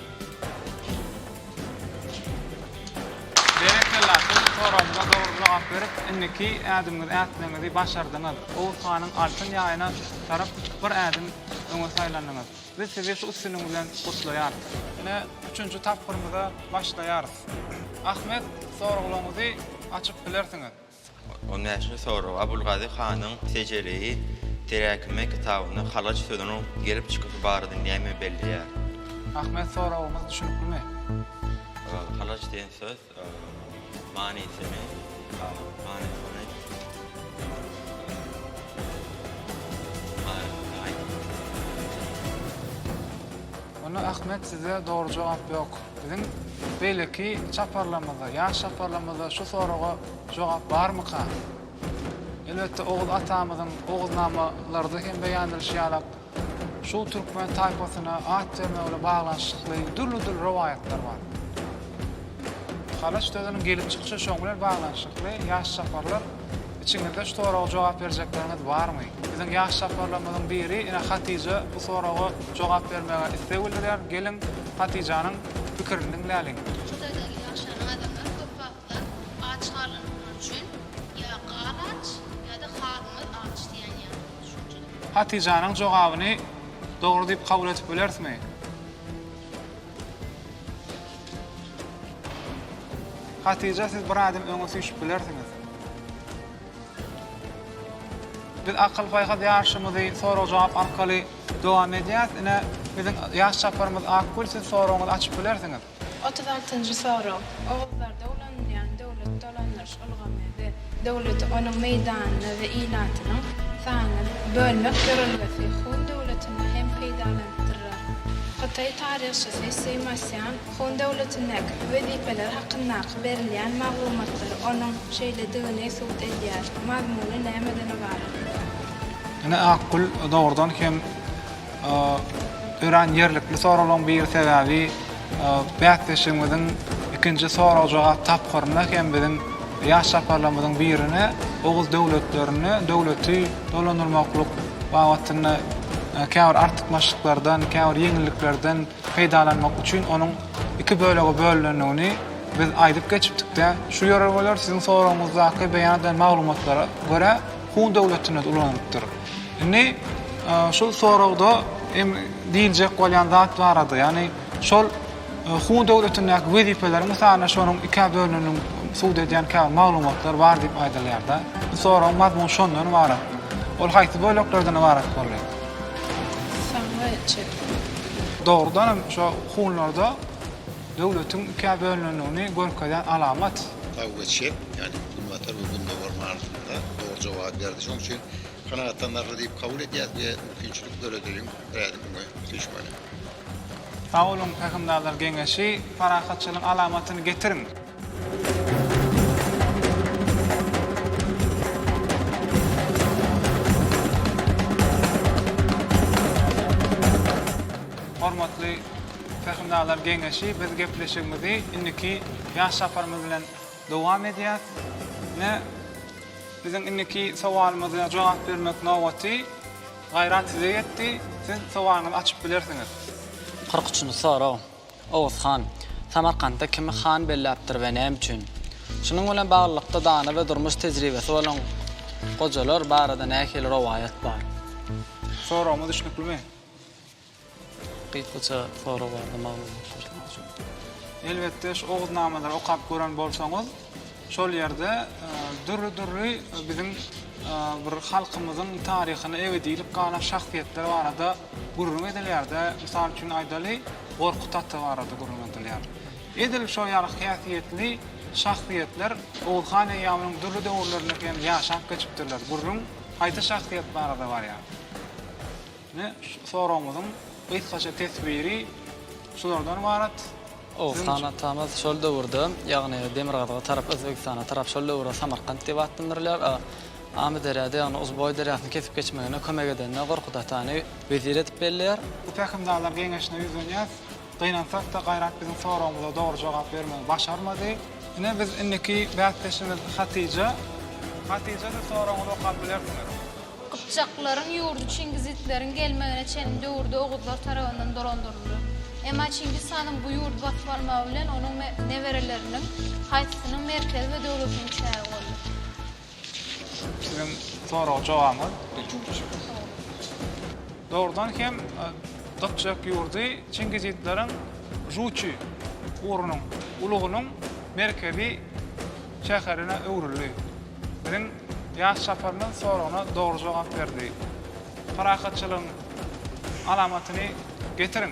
Berekella, siz soragyňyza dogry jogap berip, indiki ädimiňizi ätmeginizi başardyňyz. Oguz hanyň altyn ýaýyna tarap bir ädim öňe saýlandyňyz. Biz sizi şu üstünligiňiz bilen gutlaýarys. Ine, üçünji tapgyrymyza başlaýarys. Ahmet, soraglaryňyzy açyp bilersiňiz. On bäşinji sorag, Abulgazy hanyň Sejeleýi teräkime kitabynda halaç sözüniň gelip çykyşy barada näme belleýär? Ahmet soragymyz düşüniklimi? Halaç diýen söz manysyny manysyny manysyny aýt. Onda Ahmet sizde dogry jogap ýok. Biziň beýleki çaparlarymyzda, ýaş çaparlarymyzda şu soraga jogap barmyka? Elbetde, Oguz atamyzyň Oguznamalarda hem beýan edilişi ýaly, şu türkmen taýpasyna at berme bilen baglanyşykly dürli-dürli rowaýatlar bar. Halaç sözüniň gelip çykyşy şoň bilen baglanyşykly, ýaş çaparlar Içiňizde şu soraga jogap berjekleriňiz barmy? Biziň ýaş çaparlarymyzyň biri ine Hatyja bu soraga jogap bermäge isleg bildirýär. Geliň, Hatyjanyň pikirini diňläliň. Şulardaky ýaşan adamlar köp wagtlar aç galandyklary üçin ýa gal aç, ýa-da halymyz aç diýen ýaly bir düşünje bar. Hatyjanyň jogabyny dogry diýip kabul edip bilerismi? Hatyja siz bir adım öňe süýşüp bilersiňiz. Biz akyl paýhas ýaryşymyzy sorag jogap arkaly dowam edýäris. Ine biziň ýaş çaparymyz Akgül siz soragyňyzy açyp bilersiňiz. Otuz altynjy sorag. Oguzlarda ulanylýan döwlet dolandyryş ulgamy we döwleti onuň meýdanyny we ilatynyň sanyny bölmek ýörelgesi Hun döwletinde hem peýdalanypdyrlar. Hytaý taryhçysy Sima Sýan Hun döwletindäki bu wezipeler hakyndaky berilýän maglumatlar onuň şeýledigini subut edýär. Mazmuny nämeden ybarat? Ine, Akgül, dogrudan hem, örän ýerlikli soralyň biri sebäbi bäsleşigimiziň ikinji sorag-jogap tapgyrynda hem biziň ýaş çaparlarymyzyň birine oguz döwletlerine döwleti dolandyrmaklyk babatynda käbir artykmaçlyklardan käbir ýeňilliklerden peýdalanmak üçin onuň iki bölege bölünendigini biz aýdyp geçipdikde şu ýörelgeler siziň soragyňyzdaky beýan edilen maglumatlara görä Hun döwletinde-de ulanylypdyr. Indi şu soragda hem diýiljek bolýan zat barada, ýagny şol Hun döwletindäki wezipeleriň mysalyna şonuň ikä bölüneniniň subut edýän käbir maglumatlar bar diýip aýdylýar-da. Bu soragyň mazmuny şondan ybarat. Ol haýsy böleklerden ybarat boldy? Saňa çek. Dogrudan hem şo hunlarda döwletiň ikä bölünendigini görkezýän alamat. Taw we Çep, ýagny Günbatar we Gündogar manysynda dogry jogaby berdi. Şonuň üçin kanagatlanarly diýip kabul edýäs we mümkinçilik döredeliň rädim öňe süýşmeli. Sag boluň Pähimdarlar geňeşi, parahatçylygyň alamatyny getiriň! Hormatly Hökümdarlar geňeşi biz gepleşigimizi indiki ýaş saparymyz bilen dowam edýäs. Ine biziň indiki sowalymyza jogap bermek nobaty Gaýrat size ýetdi. Siz sowalyňyzy açyp bilersiňiz. Kyrk üçünji sorag, Oguz han Samarkantda kimi han belläpdir we näme üçin? Şunuň bilen baglylykda dana we durmuş tejribesi bolan gojalar barada nähili rowaýat bar? Soragymyz düşnüklimi? Gysgaça sorag barada maglumat berseňiz şu. Elbetde şu Oguznamalary okap gören bolsaňyz şol ýerde dürli dürli biziň bir halkymyzyň taryhyna ebediylik galan şahsyýetler barada gürrüň edilýärde mysal üçin aýdaly Gorkut ata barada gürrüň edilýär. Edil şol ýaly häsiýetli şahsyýetler Oguz han eýýamynyň dürli döwürlerinde hem ýaşap geçipdirler. Gürrüň haýsy şahsyýet barada barýar? Ine, soragymyzyň gysgaça teswiri şulardan ybarat. Oguzhan atamyz şol döwürde, ýagny demirgazyga tarap, Özbegistana tarap şol döwürde Samarkant diýip atlandyrylýar. Amyderýada, ýagny Uzboý derýasyny kesip geçmegine kömek edende Gorkut atany wezir edip belleýär. Bu pähimdarlar geňeşine ýüzlenýär. Gynansak-da, Gaýrat biziň soragymyza dogry jogap bermegi başarmady. Ine, biz indiki bäsdeşimiz Hatyja. Hatyja, siz soragyňyzy okap bilersiňiz. Gypjaklaryň ýurdy çingizitleriň gelmegine çenli döwürde oguzlar tarabyndan dolandyryldy. Emma Çingiz hanyň bu ýurdy basyp almagy bilen onuň nebereleriniň haýsysynyň merkezi we döwletiniň çägi boldy? Siziň soraga jogabyňyz. Dogrudan hem Gypjak ýurdy Çingizitleriň Žuçi urunyň ulugynyň merkezi şäherine öwrüldi. Biziň ýaş çaparymyz soragyna dogry jogap berdi. Parahatçylygyň alamatyny getiriň!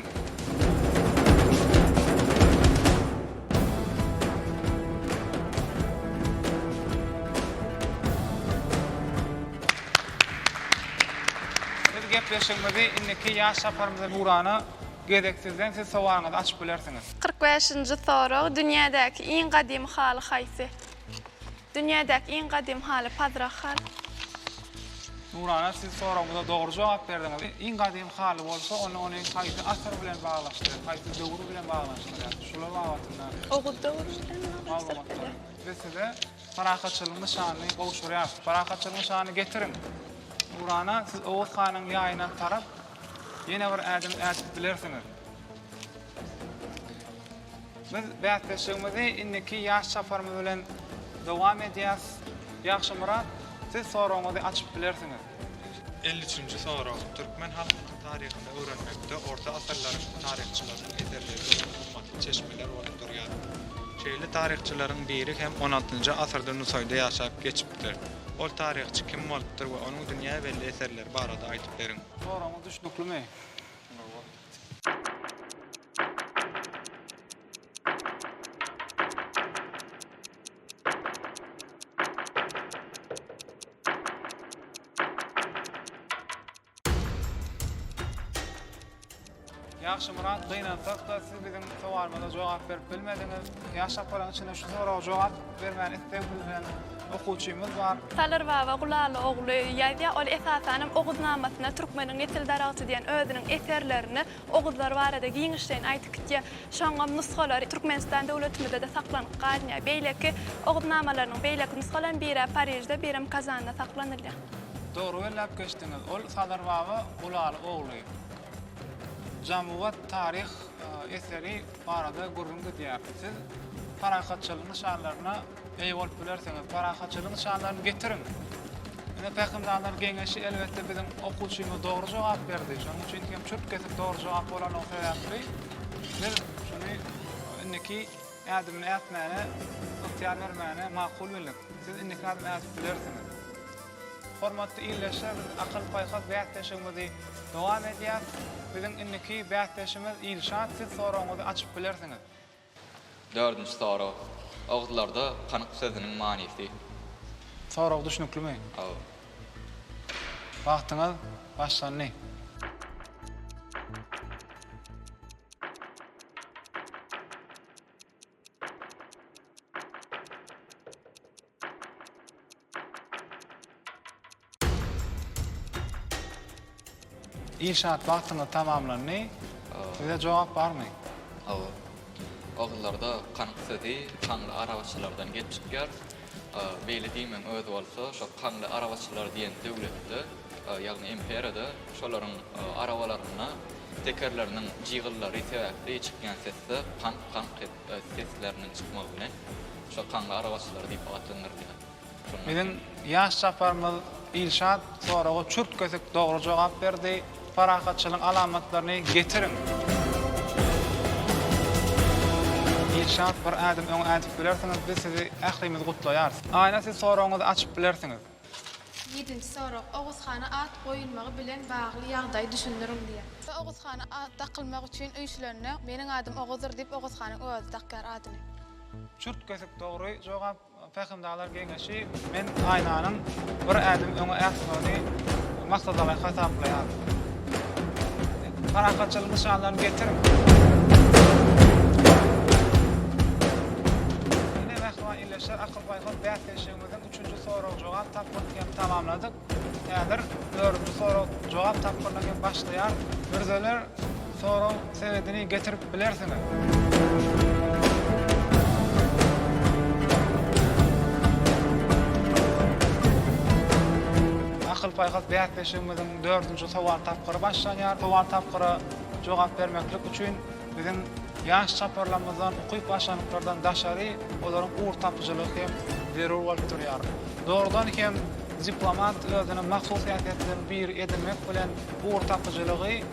Biz gepleşigimizi indiki ýaş saparymyza ugrana gezek sizden, siz sowalyňyzy açyp bilersiňiz. Kyrk bäşinji sorag, Dünýädäki iň gadymy haly haýsy? Dünýädäki iň gadym haly Pazrak haly. Nurana siz soragymyza dogry jogap berdiňiz. Iň gadym haly bolsa onda ony haýsy asyr bilen baglaşdyryp, haýsy döwür bilen baglaşdyrýar? Şular babatynda. Oguz döwri bilen baglaşdyryp bilýär. Biz size parahatçylygyň nyşanyny gowşurýarys. Parahatçylygyň nyşanyny getiriň. Nurana siz Oguz hanyň ýaýyna tarap ýene bir ädim ädip bilersiňiz. Biz bäsleşigimizi indiki ýaş çaparymyz bilen dowam edýäs. Ýagşymyrat, siz soragyňyzy açyp bilersiňiz. Elli üçünji sorag, Türkmen halkynyň taryhyny öwrenmekde orta asyrlaryň taryhçylarynyň eserleri örän gymmatly çeşmeler bolup durýar. Şeýle taryhçylaryň biri hem on altynjy asyrda Nusaýda ýaşap geçipdir. Ol taryhçy kim bolupdyr we onuň dünýä belli eserleri barada aýdyp beriň. Soragyňyz düşnüklimi? Ýagşy Murat, gynansak-da siz biziň sowalyma jogap berip bilmediňiz. Ýaş çaparlaryň içinde şu soraga jogap Bermän isleg bildiren okuwçymyz bar. Salyr baba Gulaly ogly ýazýar. Ol esasan hem Oguznamasyna Türkmeniň nesil daragty diýen özüniň eserlerinde oguzlar barada giňişleýin aýdyp gitýär. Şoňam nusgalary Türkmenistan döwletimizde-de saklanyp galynýar. Beýleki Oguznamalarynyň beýleki nusgalarynyň biri-ä Parižde, birem Kazanda saklanylýar. Dogry belläp geçdiňiz. Ol Salyr baba Gulaly ogly. Jam-uwat taryh eseri. barada gürrüň gidýär. Siz parahatçylygyň nyşanlaryna eýe bolup bilersiňiz. Parahatçylygyň nyşanlaryny getiriň. Ine Pähimdanyň geňeşi elbetde biziň okuwçymyz dogry jogap berdi. Şonuň üçin hem çürt kesip dogry jogap bolany sebäpli biz şuny indiki ädimini ätmäne ygtyýar bermäne makul bildik. Siz indiki ädim ädip bilersiňiz. Hormatly ildeşler biz akyl paýhas bäsleşigimizi dowam edýäs. Biziň indiki bäsdeşimiz Ilşat siz soragyňyzy açyp bilersiňiz. Dördünji sorag. Oguzlarda kanyk sözüniň manysy. Sorag düşnüklimi? Hawa. Wagtyňyz başlandy. Inşaat wagtynda tamamlandy. Size jogap barmy? Hawa. Ogullarda kanyk sözi sanly arabaçylardan gelip çykýar. A, beýle diýmegiň özi bolsa, şo Kanly arabaçylar diýen döwletde, ýagny imperiýada şolaryň arabalarynda tekerleriniň jygyllary sebäpli çykýan sesler kank-kank sesleriniň çykmagy bilen şo Kanly arabaçylar diýip atlandyrylýar. Şondan soň. Biziň ýaş çaparymyz Ilşat soraga çürt-kesik dogry jogap berdi. Parahatçylygyň alamatlaryny getiriň! Ilşat, bir ädim öňe ädip bilersiňiz, biz sizi ählimiz gutlaýarys. Aýna, siz soragyňyzy açyp bilersiňiz. Ýedinji sorag, Oguz hana at goýulmagy bilen bagly ýagdaýy düşündiriň diýýär. Oguz hana at dakylmak üçin üýşülende, Meniň adym Oguzdyr diýip, Oguz hanyň özi dakýar adyny. Çürt-kesik dogry jogap. Pähimdarlar geňeşi Men aýnanyň bir ädim öňe ätmegini maksadalaýyk hasaplaýar. Parahatçylyk nyşanlaryny getiriň. Ine, mähriban ildeşler, akyl-paýhas bäsleşigimiziň üçünji sorag-jogap tapgyryny hem tamamladyk. Häzir dördünji sorag jogap tapgyryndan hem başlaýar. Mürzeler soragyň senedini getirip bilersiňiz. Akyl-paýhas bäsleşigimiziň dördünji sowal tapgyry başlanýar. Sowal tapgyra jogap bermeklik üçin Biziň ýaş çaparlarymyzdan, ukyp başlanyklardan daşary, olaryň ugur tapyjylygy hem zerur bolup durýar. Dogrudan hem, diplomat özüne mahsus häsiýetleriň biri edinmek bilen, ugur tapyjylygy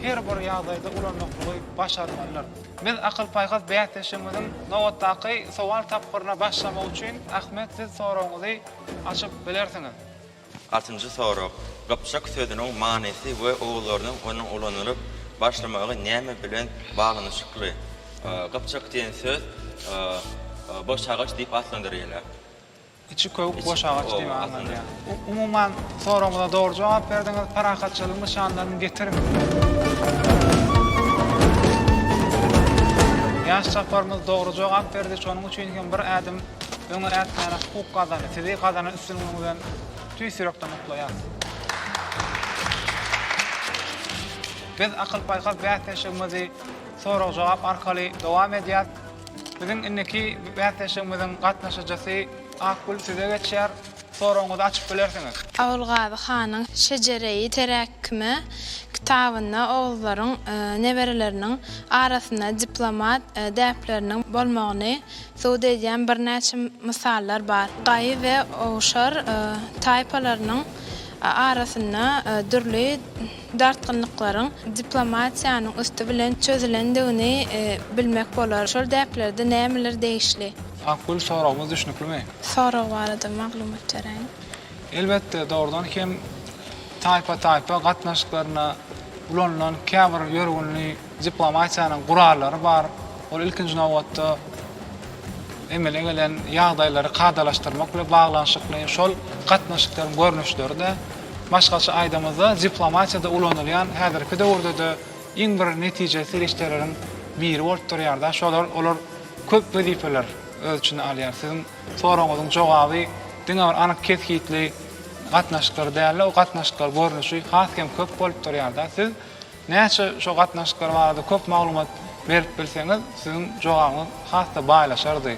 her bir ýagdaýda ulanmaklygy başarmalydyr. Biz akyl-paýhas bäsleşigimiziň nobatdaky sowal tapgyryna başlamak üçin, Ahmet, siz soragyňyzy açyp bilersiňiz. Altynjy sorag. Gypjak sözüniň manysy we ugurlarynyň onuň ulanylyp başlamagy näme bilen baglanyşykly? Gypjak diýen söz boşagaç diýip atlandyrylýar. Içi köwük boşagaç diýip aňladýar. Umuman, soragymyza dogry jogap berdiňiz. Parahatçylygyň nyşanlaryny getiriň. Ýaş çaparymyz dogry jogap berdi, şonuň üçin hem bir ädim öňe ätmäne hukuk gazandy. Sizi gazanan Siziň öňüňizden tüýs ýürekden gutlaýarys. Biz akyl-paýhas bäsleşigimizi sorag-jogap arkaly dowam edýäs. Biziň indiki bäsleşigimiziň gatnaşyjysy Akgül size geçýär. Soragyňyzy açyp bilersiňiz. Ogulgazy hanyň Şejereýi teräkkime kitabynda oguzlaryň nebereleriniň arasynda diplomat däpleriniň bolmagyny Sud edýän birnäçe mysallar bar. Gaýy we owşar taýpalarynyň arasynda dürli dartgynlyklaryň diplomatiýanyň üsti bilen çözülendigini bilmek bolar. Şol däplerde nämeler degişli? Akgül, soragymyz düşnüklimi? Sorag barada maglumat beräýiň. Elbetde, dogrudan hem taýpa-taýpa gatnaşyklaryna ulanylan käbir ýörgünli. Diplomatiýanyň gurallary bar. Ol ilkinji nobatda emele gelen ýagdaýlary kadalaşdyrmak bilen baglanyşykly. Şol gatnaşyklaryň görnüşleri-de başgaça aýdamyzda diplomatiýada ulanylýan häzirki döwürde-de iň bir netijeli serişdeleriň biri bolup durýar-da. Şolar olar köp wezipeler öz içine alýar. Siziň soragyňyzyň jogaby diňe bir anyk kesgitli gatnaşyklar däl-de, o gatnaşyklar görnüşi has hem köp bolup durýar-da. Siz Näçe şo gatnaşyklar barada köp maglumat berip bilseňiz, siziň jogabyňyz has-da baýlaşardy.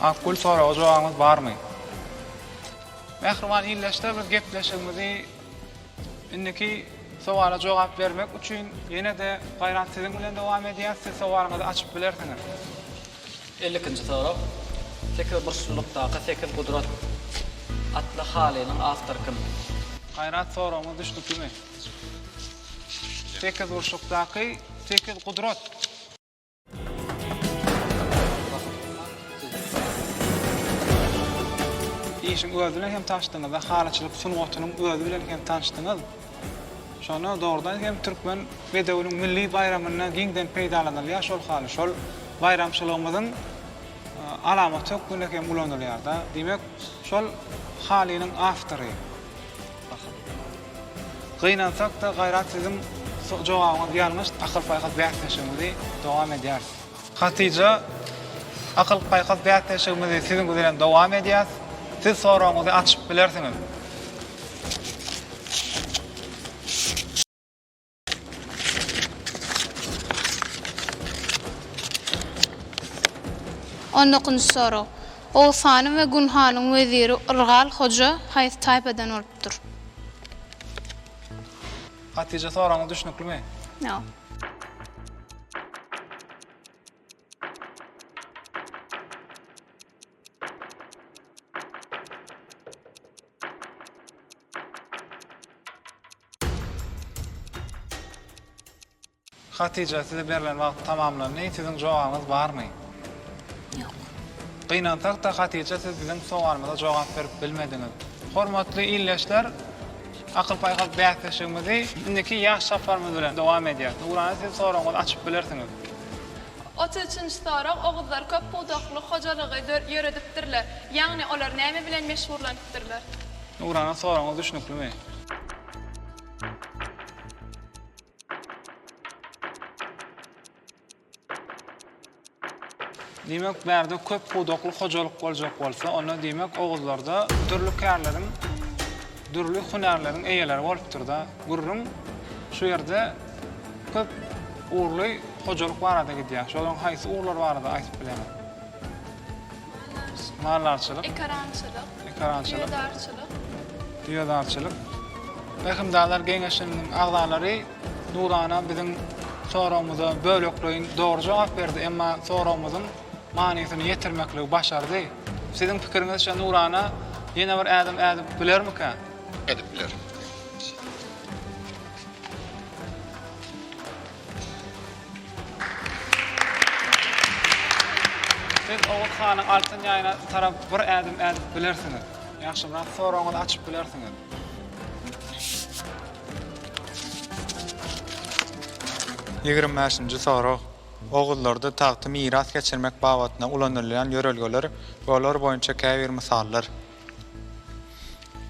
Akgül soraga jogabyňyz barmy? Mähriban ildeşler biz gepleşigimizi indiki sowala jogap bermek üçin ýene-de Gaýrat siziň bilen dowam edýäs, siz sowalyňyzy açyp bilersiňiz. Elli ikinji sorag, Sekiz burçlulykdaky sekiz gudrat atly halynyň awtory kim? Gaýrat soragyňyz düşnüklimi? Sekiz burçlukdaky sekiz gudrat. Işiň özi bilen hem tanşdyňyz-da, halyçylyk sungatynyň özi bilen hem tanşdyňyz. Şonda dogrudan hem türkmen bedewiniň milli baýramynda giňden peýdalanylýar şol haly. Şol baýramçylygymyzyň alamaty hökmünde hem ulanylýar-da. Diýmek, şol halynyň awtory. Gynansakda gaýrat siziň jogabyňyz ýalňyş akyl paýhas bäsleşigimizi dowam edýäris. Hatyja akyl paýhas bäsleşigimizi siziň bilen dowam edýäs siz soragyňyzy açyp bilersiňiz. On dokynjy sorag. Oguz hanyň we Gun hanyň weziri Yrgal hoja haýsy taýpadan bolupdyr? Hatija soragyňyz düşnüklimi? Ýok. Hatija, size berlen wagt tamamlandy. Siziň jogabyňyz barmy? Ýok. Gynansak-da, Hatija, siz biziň sowalymyza jogap berip bilmediňiz. Hormatly ildeşler, akyl-paýhas bäsleşigimizi indiki ýaş çaparymyz bilen dowam edýäris. Nurana, siz soragyňyzy açyp bilersiňiz. Otuz üçünji sorag, Oguzlar köp pudakly hojalygy ýöredipdirler. Ýagny olar näme bilen meşgurlanypdyrlar? Nurana soragyňyz düşnüklimi? Diýmek bärde köp pudakly hojalyk boljak bolsa onda diýmek oguzlarda dürli kärleriň Dürli hünärleriň eýeleri bolupdyr-da, gürrüň şu ýerde köp ugurly hojalyk barada gidýär. Şolaryň haýsy ugurlar barada aýdyp bileňiz? Maldarçylyk. Maldarçylyk. Ekarançylyk. Ekarançylyk. Düýedarçylyk. Düýedarçylyk. Rehimdarlar geňeşiniň agzalary Nurana biziň soragymyza bölekleýin dogry jogap berdi, emma soragymyzyň manysyny ýetirmekligi başardy. Siziň pikiriňizçe Nurana ýene bir ädim ädip bilermikä? Edip biler. Siz Oguz hanyň altyn ýaýyna tarap bir ädim ädip bilersiňiz. Ýagşyrak soragyňyzy açyp bilersiňiz. Ýigrimi bäşinji sorag. Oguzlarda tagty miras geçirmek babatynda ulanylýan ýörelgeler we olar boýunça käbir mysallar.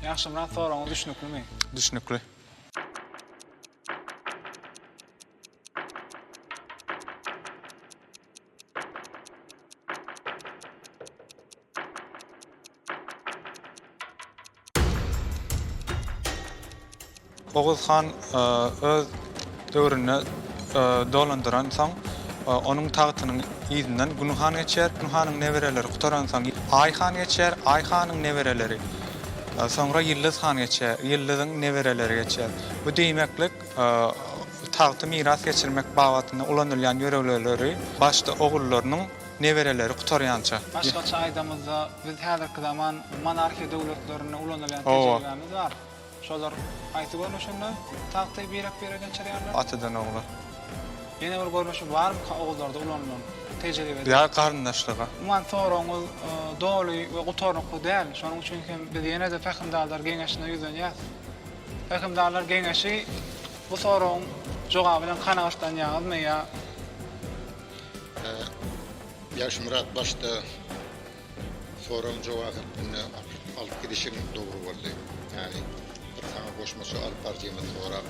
Ýagşymyrat soragyňyz düşnüklimi? Düşnükli. Oguz han e, öz döwründe e, dolandyran soň e, onuň tagtynyň ýüzünden Gün han geçer, Gün hanyň nebereleri gutaran soň Aý han geçer, Aý hanyň nebereleri. Soňra Ýyldyz han geçer, Ýyldyzyň nebereleri geçer. Bu diýmeklik tagty miras geçirmek babatynda ulanylýan ýörelgeleri başda ogullarynyň Nebereleri gutarýança. Başgaça aýdamyzda, biz häzirki zaman monarhiýa döwletlerinde ulanylýan tejribämiz bar. Şolar haýsy görnüşinde tagty birek-bire geçirýärler? Atadan ogla. Ýene bir görnüşi barmyka ogullarda ulanylan, tejribede? Ýa garyndaşlyga. Umuman soragyňyz doly we gutarnykly däl, şonuň üçin hem biz ýene-de Pähimdarlar geňeşine ýüzlenýäs. Pähimdarlar geňeşi bu soragyň jogaby bilen kanagatlanýaňyzmy ýa? Ýagşymyrat başda soragyň jogap hökmünde alyp gidişiň dogry boldy. Ýagny bir saňa goşmaça alyp barjyňyz sorap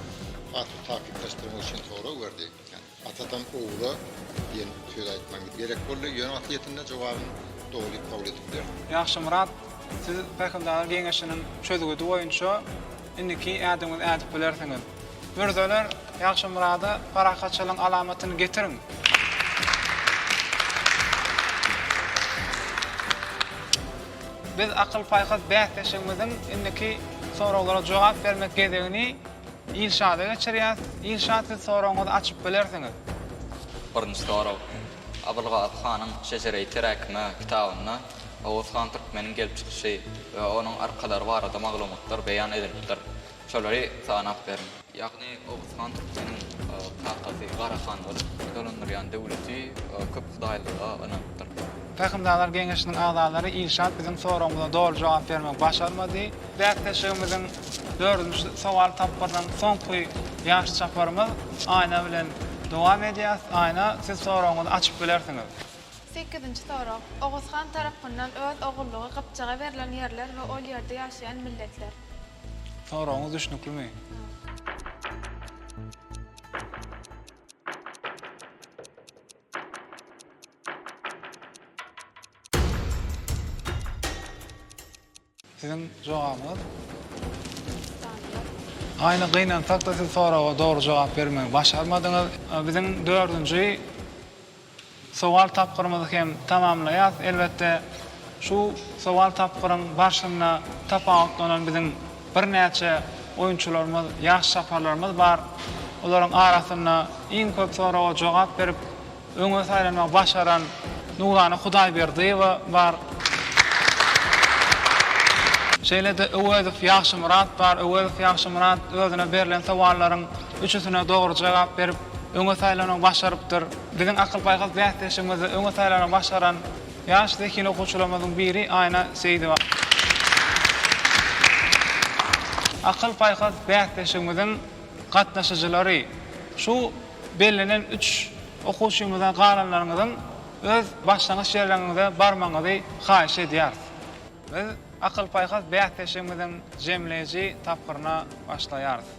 has bir takyklaşdyrmak üçin sorag berdi. Ýagny atadan ogula diýen söz aýtmaň gerek boldy. Ýöne asliyetinde jogabyň dogry kabul edipdir. Ýagşymyrat siz pähimdar geňeşiniň çözgüdi boýunça. Indiki ädimiňizi ädip bilersiňiz. Mürzeler, Ýagşymyrada parahatçylygyň alamatyny getiriň! Biz akyl-paýhas bäsleşigimiziň indiki soraglara jogap bermek gezegini Ilşada geçirýäs. Ilşat, siz soragyňyzy açyp bilersiňiz. Birinji sorag. Abylgazy hanyň Şejereýi teräkime kitabynda. Oguzhan Türkmeniň gelip çykyşy we onuň arkalary barada maglumatlar beýan edilipdir. Şolary sanap beriň. Ýagny Oguzhan Türkmeniň kakasy Gara han bolup, dolandyrýan döwleti köp hudaýlyga ynanypdyr. Pähimdarlar geňeşiniň agzalary Ilşat biziň soragymyza doly jogap bermek başarmady. Bäsleşigimiziň dördünji sowal tapgyrynyň soňky ýaş çaparymyz Aýna bilen dowam edýäs. Aýna, siz soragyňyzy açyp bilersiňiz. Sekizinji sorag. Oguz han tarapyndan öz ogullygy Gypjaga berlen ýerler we ol ýerde ýaşaýan milletler. Soragyňyz düşnüklimi? Siziň jogabyňyz? Aýna gynansakda siz soraga dogry jogap bermegi başarmadyňyz. Biziň dördünji sowal tapgyrymyzy hem tamamlaýas. Elbetde şu sowal tapgyryň barşynda tapawutlanan biziň birnäçe oýunçylarymyz, ýaş çaparlarymyz bar. Olaryň arasynda iň köp soraga jogap berip, Öňe saýlanmagy başaran Nurana Hudaýberdiýewa bar. Şeýle-de Öwezow Ýagşymyrat bar. Öwezow Ýagşymyrat özüne berlen sowallaryň üçüsine dogry jogap berip, öňe saýlanmagy başarypdyr. Biziň akyl-paýhas bäsleşigimizde öňe saýlanmagy başaran ýaş zehin okuwçylarymyzyň biri Aýna Seýidowa. Akyl-paýhas bäsleşigimiziň gatnaşyjylary şu. Bellenen üç okuwçymyzdan galanlaryňyzyň öz başlangyç ýerleriňize barmagyňyzy haýyş edýäris. Biz Akyl-paýhas bäsleşigimiziň jemleýji tapgyryna başlaýarys.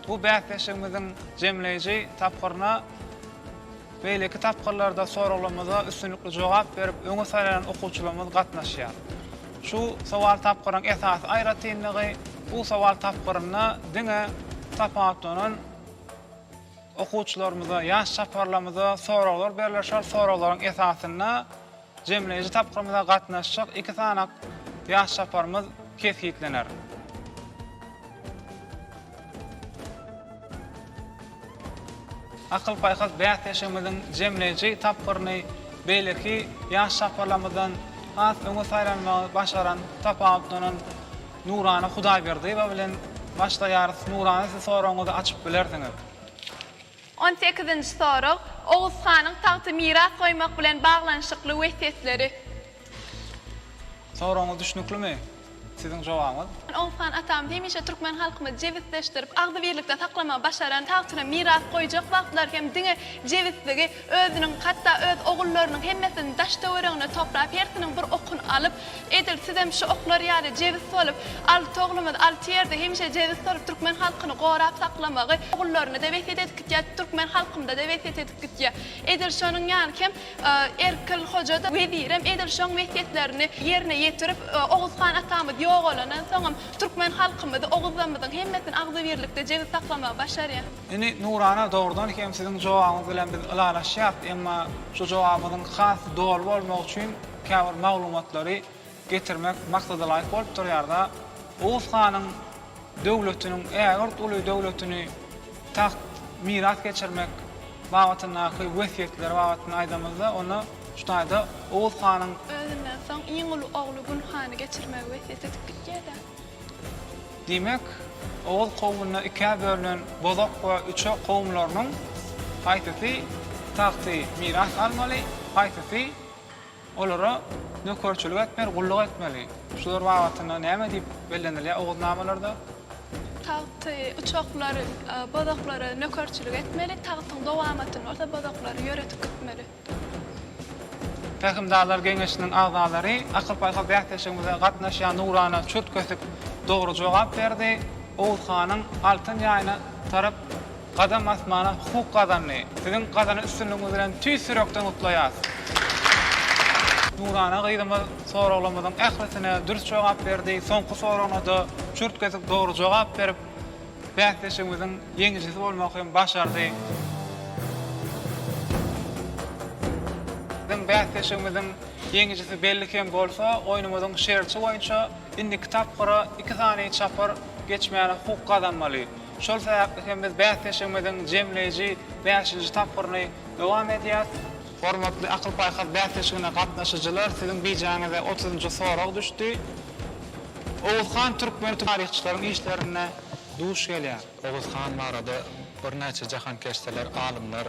Bu bäsleşigimiziň jemleýji tapgyryna beýleki tapgyrlarda soraglarymyza üstünlikli jogap berip öňe saýlanan okuwçylarymyz gatnaşýar. Şu sowal tapgyrynyň esasy aýratynlygy, bu sowal tapgyrynda diňe tapawutlanan, Okuwçylarymyza, ýaş çaparlarymyza soraglar berler. Şol soraglaryň esasynda jemleýji tapgyrymyza gatnaşjak iki sany ýaş çaparymyz kesgitlener. Akyl-paýhas bäsleşigimiziň jemleýji tapgyryny beýleki ýaş çaparlarymyzdan has öňe saýlanmagy başaran, tapawutlanan Nurana Hudaýberdiýewa bilen başlaýarys. Nurana siz soragyňyzy açyp bilersiňiz. On sekizinji sorag, Oguz hanyň tagty miras goýmak bilen baglanyşykly wesýetleri. Soragyňyz düşnüklimi? Siziň jogabyňyz. Oguz han atamyz hemişe türkmen halkymyzy jebisleşdirip, agzybirlikde saklamagy başaran, tagtyny miras goýjak wagtlary hem diňe jebisligi, Özüniň, hatda öz ogullarynyň hemmesiniň daş-töweregine toplap, hersiniň bir okuny alyp, Edil sizem şu oklar ýaly jebis bolup, alty oglumyz alty ýerde hemişe jebis bolup türkmen halkyny gorap saklamagy ogullaryna-da wesýet edip gitýä, türkmen halkymda-da wesýet edip gitýä. Edil şonuň ýaly hem Erkil hoja-da, wezirem edil şoň wesýetlerini ýerine ýetirip, Oguz han atamyz ýogalandan soňam türkmen halkymyzy, oguzlarymyzyň hemmesini agzybirlikde jebis saklamagy başarýa. Indi Nurana dogrudan hem siziň jogabyňyz bilen biz ylalaşýas, emma şu jogabyňyzyň has doly bolmagy üçin käbir maglumatlary getirmek maksadalaýyk bolup durýarda. Oguz hanyň döwletiniň ägirt uly döwletini tagt miras geçirmek babatyndaky wesýetleri babatynda aýdamyzda onda şu taýda Oguz hanyň. Özünden soň iň uly ogly Gün hany geçirmegi wesýet edip gitýärda. Diýmek, Oguz kowmunda ikä bölünen Bozok we Üçe kowumlarynyň haýsysy tagty miras almaly, haýsysy olara nökerçilik etmeli, gulluk etmeli? Şular babatynda näme diýip bellenilýär Oguznamalarda? Tagty Üçoklar Bozoklara nökerçilik etmeli, tagtyň dowamatyny bolsa Bozoklar ýöredip gitmeli. Pähimdarlar geňeşiniň agzalary akyl-paýhas bäsleşigimize gatnaşýan nurana çürt-kösük dogry jogap berdi. Oguz hanyň altyn ýaýyna tarap gadam basmana hukuk gazandy. Siziň gazanan üstünligiňiz bilen tüýs ýürekden gutlaýarys. Nurana gyzymyz soraglarymyzyň ählisine dürs jogap berdi. Soňky soragyna-da çürt-kösük dogry jogap berip, Bäsleşigimiziň ýeňijisi bolmak hem başardy. Biziň bäsleşigimiziň ýeňijisi belli hem bolsa, oýnumyzyň şerti boýunça indiki tapgyra iki sany çapar geçmäne hukuk gazanmaly. Şol sebäpli hem biz bäsleşigimiziň jemleýji bäşinji tapgyryny dowam edýäs. Hormatly akyl-paýhas bäsleşigine gatnaşyjylar, siziň bijaňyza otuzynjy sorag düşdi. Oguz han türkmen taryhçylaryň işlerinde duş gelýär. Oguz han barada birnäçe jahankeşdeler, alymlar,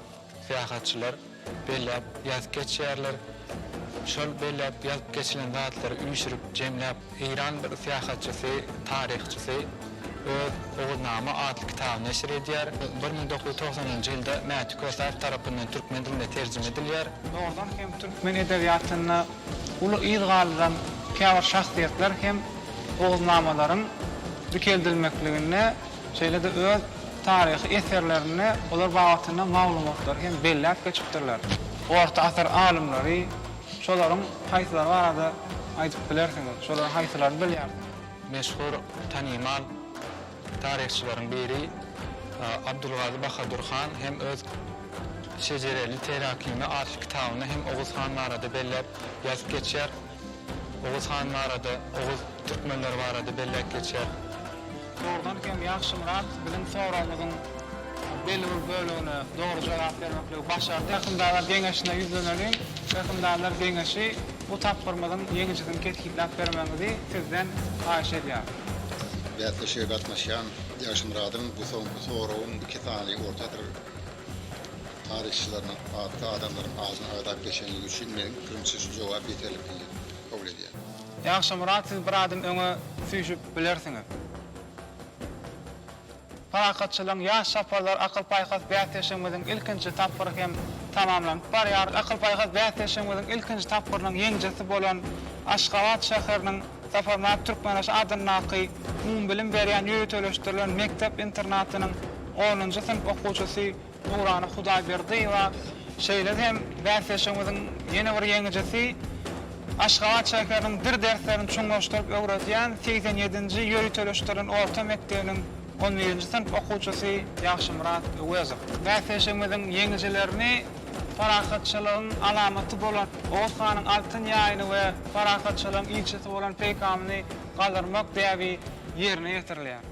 syýahatçylar belläp ýazyp geçýärler. Şol belläp ýazyp geçilen zatlary üýşürip, jemläp Eýran bir syýahatçysy, taryhçysy öz Oguznama atly kitabyny neşir edýär. Bir müň dokuz ýüz togsanynjy ýylda Mäti Kösäýew tarapyndan türkmen diline terjime edilýär. Dogrudan hem türkmen edebiýatynda uly yz galdyran käbir şahsyýetler hem Oguznamalaryň dikeldilmekliginde, şeýle-de öz taryhy eserlerinde olar babatynda maglumatlary hem belläp geçipdirler. Orta asyr alymlary Şolaryň haýsylary barada aýdyp bilersiňiz? Şolaryň haýsylaryny bilýärsiňiz? Meşhur, tanymal taryhçylaryň biri Abdulgazy Bahadur han hem öz Şejereli Terakime atly kitabynda hem Oguz han barada belläp ýazyp geçýär. Oguz han barada, oguz türkmenleri barada belläp geçýär. Dogrudan hem Ýagşymyrat biziň soragymyzyň belli bir bölegine dogry jogap bermekligi başardy. Hökümdarlar geňeşine ýüzleneliň. Hökümdarlar geňeşi bu tapgyrymyzyň ýeňijisini kesgitläp bermegiňizi sizden haýyş edýär. Bäsleşige gatnaşýan Ýagşymyradyň bu soňky soragyň iki sany orta asyr taryhçylarynyň atly adamlaryň adyny agzap geçenligi üçin meniň pikirimçe şu jogap ýeterlikli diýip kabul edýän. Ýagşy Myrat siz bir adym öňe süýşüp bilersiňiz. Parahatçylygyň ýaş çaparlar akyl-paýhas bäsleşigimiziň ilkinji tapgyry hem tamamlanyp barýar. Akyl-paýhas bäsleşigimiziň ilkinji tapgyrynyň ýeňijisi bolan Aşgabat şäheriniň Saparmyrat Türkmenbaşy adyndaky umumybilim berýän ýöriteleşdirilen mekdep-internatynyň onunjy synp okuwçysy Nurana Hudaýberdiýewa, Şeýle hem bäsleşigimiziň ýene bir ýeňijisi Aşgabat şäheriniň dil derslerini çuňlaşdyryp öwredýän segsen ýedinji ýöriteleşdirilen orta mekdebiniň on birinji synp okuwçysy Ýagşymyrat Öwezow. Bäsleşigimiziň ýeňijilerini parahatçylygyň alamaty bolan Oguz hanyň altyn ýaýyny we parahatçylygyň ilçisi bolan peýkamyny galdyrmak däbi ýerine ýetirilýär.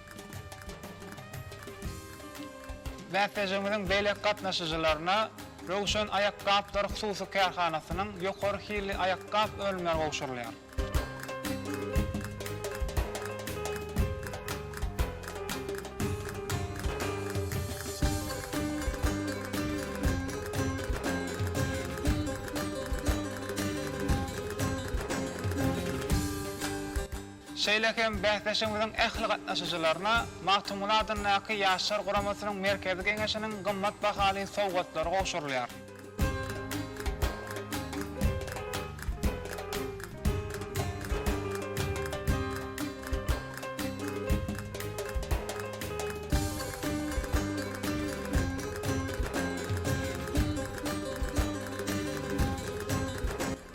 Bäsleşigimiziň beýleki gatnaşyjylaryna Röwşen aýakgaplar hususy kärhanasynyň ýokary hilli aýakgap önümleri gowşurylýar. Şeýle hem bäsleşigimiziň ähli gatnaşyjylaryna Magtymguly adyndaky Ýaşlar guramasynyň Merkezi Geňeşiniň gymmat bahaly sowgatlary gowşurylýar.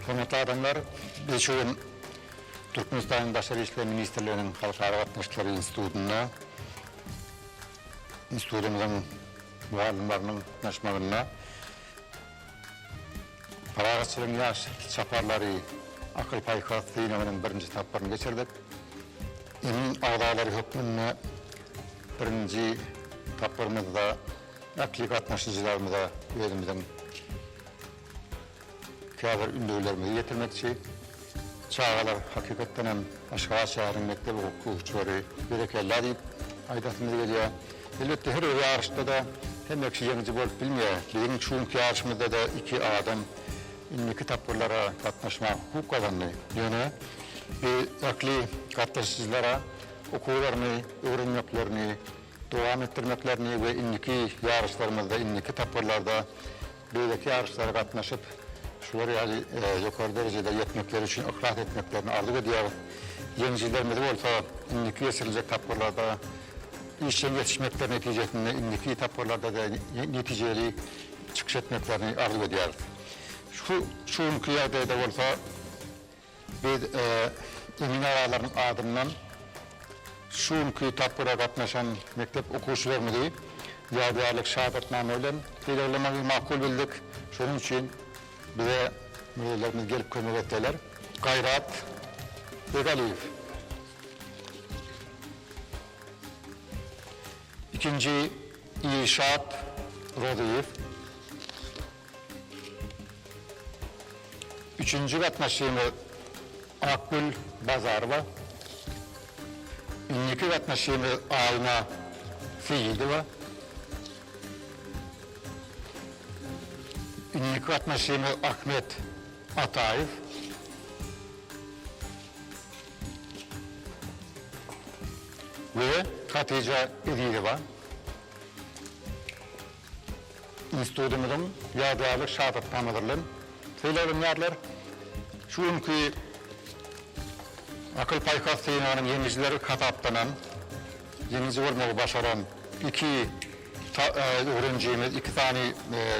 Hormatly adamlar, biz şu gün Türkmenistanyň Daşary işler ministrliginiň Halkara gatnaşyklary institutynda institutymyzyň mugallymlarynyň gatnaşmagynda Parahatçylygyň ýaş çaparlary akyl-paýhas synagynyň birinji tapgyryny geçirdik. Emin agzalary hökmünde birinji tapgyrymyzda ähli gatnaşyjylarymyza özümiziň Käbir ündewlerimizi ýetirmekçi. Çagalar hakykatdan hem Aşgabat şäheriniň mekdep okuwçylary berekella diýip aýdasymyz gelýär. Elbetde her bir ýaryşda-da hemme kişi ýeňiji bolup bilmeýär. Biziň şu günki ýaryşymyzda-da iki adam indiki tapgyrlara gatnaşmaga hukuk gazandy. Ýöne biz ähli gatnaşyjylara okuwlaryny öwrenmeklerini dowam etdirmeklerini we indiki ýaryşlarymyzda, indiki tapgyrlarda beýleki ýaryşlara gatnaşyp, şular ýaly ýokary derejede ýetmekleri üçin yhlas etmeklerini arzuw edýäris. Ýeňijilerimizi bolsa indiki geçiriljek tapgyrlarda işjeň ýetişmekleri netijesinde indiki tapgyrlarda-da netijeli çykyş etmeklerini arzuw edýäris. Şu şu günki ýagdaýda bolsa, Biz emin agalaryň adyndan şu günki tapgyra gatnaşan mekdep okuwçylarymyzy ýadygärlik şahadatnama bilen sylaglamak makul bildik. Şonuň üçin bize müdirlerimiz gelip kömek etseler. Gaýrat Begaliýew. Ikinji Ilşat Rozyýew. Üçünji gatnaşygymyz Akgül Bazarowa, indiki gatnaşygymyz Aýna Seýidowa, indiki gatnaşygymyz Ahmet Ataýew, we Hatyja Ezizowa. Institutymyzyň ýadygärlik şagytnamalar bilen sylaglanýarlar. Şu günki akyl-paýhas synagynyn ýeňijileri hasaplanan, ýeňiji bolmagy başaran iki öwrenijimiz, iki sany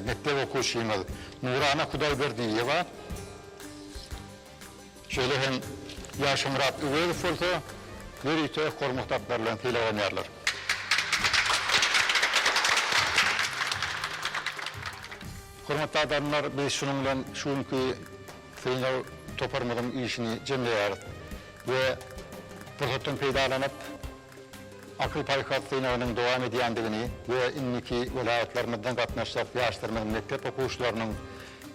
mekdep okuwçymyz Nurana Hudaýberdiýewa, Şeýle hem Ýagşymyrat Öwezow bolsa ýörite hormat atlary bilen sylaglanýarlar. Hormatly adamlar, biz şunuň bilen şu günki synag toparymyzyň işini jemleýäris we pursatdan peýdalanyp, Akyl-paýhas synagynyň dowam edýändigini we indiki welaýatlarymyzdan gatnaşjak ýaşlarymyzyň mekdep okuwçylarynyň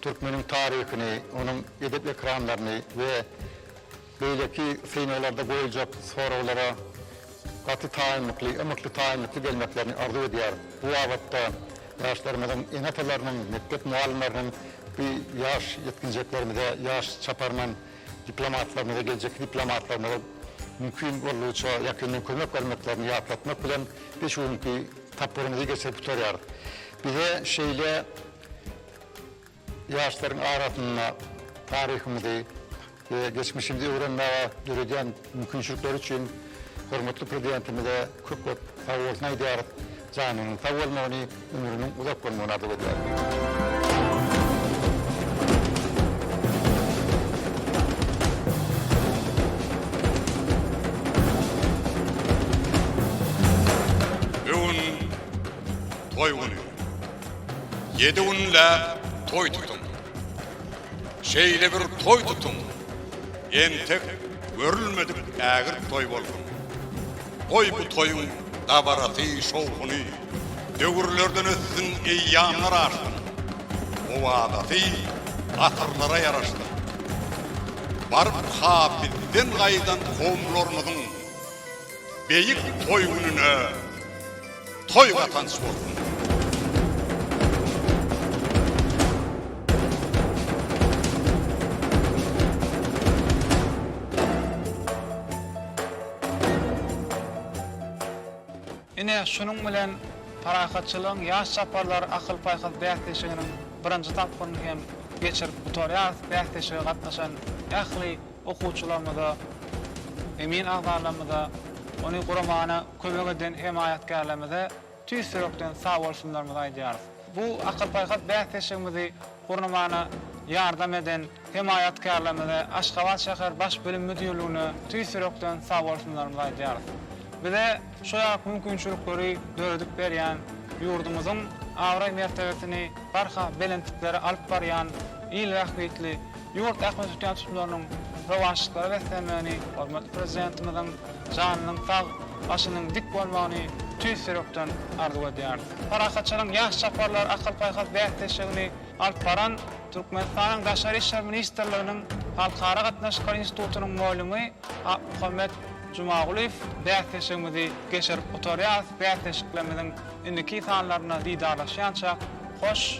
türkmeniň taryhyny, onuň edep ekramlaryny we beýleki synaglarda goýuljak soraglara gaty taýynlykly, ymykly taýynlykly gelmeklerini arzuw edýäris. Bu babatda ýaşlarymyzyň ene-atalarynyň, mekdep mugallymlarynyň bu ýaş ýetginjeklerimize, ýaş çaparman diplomatlarymyza, geljekki diplomatlarymyza mümkin boldugyça ýakyndan kömek bermeklerini ýatlatmak bilen, biz şu günki tapgyrymyzy geçirip gutarýarys. Bize şeýle ýaşlaryň arasynda taryhymyzy we geçmişimizi öwrenmäge döredýän, Mümkinçilikleri üçin hormatly Prezidentimize köp-köp sag bolsun aýdýarys. Janynyň sag bolmagyny, ömrüniň uzak bolmagyny arzuw edýäris. Bugün toý güni. Ýedi günläp toý tutuň. Şeýle bir toý tutuň, entek görülmedik ägirt toý bolsun. Goý bu toýuň dabarasy, şowhuny döwürlerden ötsin, eýýamlar aşsyn. Owazasy asyrlara ýaraşsyn. Baryp ha bizden gaýdan kowumlarymyzyň beýik toý gününe! Toý gatanç bolsun! Ine, şunuň bilen Parahatçylygyň ýaş çaparlar akyl-paýhas bäsleşiginiň birinji tapgyryny hem geçirip gutarýarys. Bäsleşige gatnaşan ähli. okuwçylarymyza, emin agzalarymyza, ony guramana kömek eden hemaýatkärlerimize tüýs ýürekden sagbolsunlarymyzy aýdýarys. Bu akyl-paýhas bäsleşigimizi gurnamana ýardam eden hemaýatkärlerimize, Aşgabat şäher Baş bilim müdirligine tüýs ýürekden sagbolsunlarymyzy aýdýarys. Bize şu ýaly mümkinçilikleri döredip berýän, ýurdumyzyň abraý-mertebesini barha belentliklere alyp barýan il bähbitli Ýurt ähli tutýan-tutularynyň rowaçlyklara beslenmegini, hormatly Prezidentimiziň janynyň sag, başynyň dik bolmagyny tüýs ýürekden arzuw edýäris. Parahatçylygyň ýaş çaparlar akyl-paýhas bäsleşigini alyp baran Türkmenistanyň Daşary işler ministrliginiň Halkara gatnaşyklary institutynyň molymy Akmuhammet Jumagulyýew bäsleşigimizi geçirip gutarýarys. Bäsleşiklerimiziň indiki sanlaryna didarlaşýança hoş!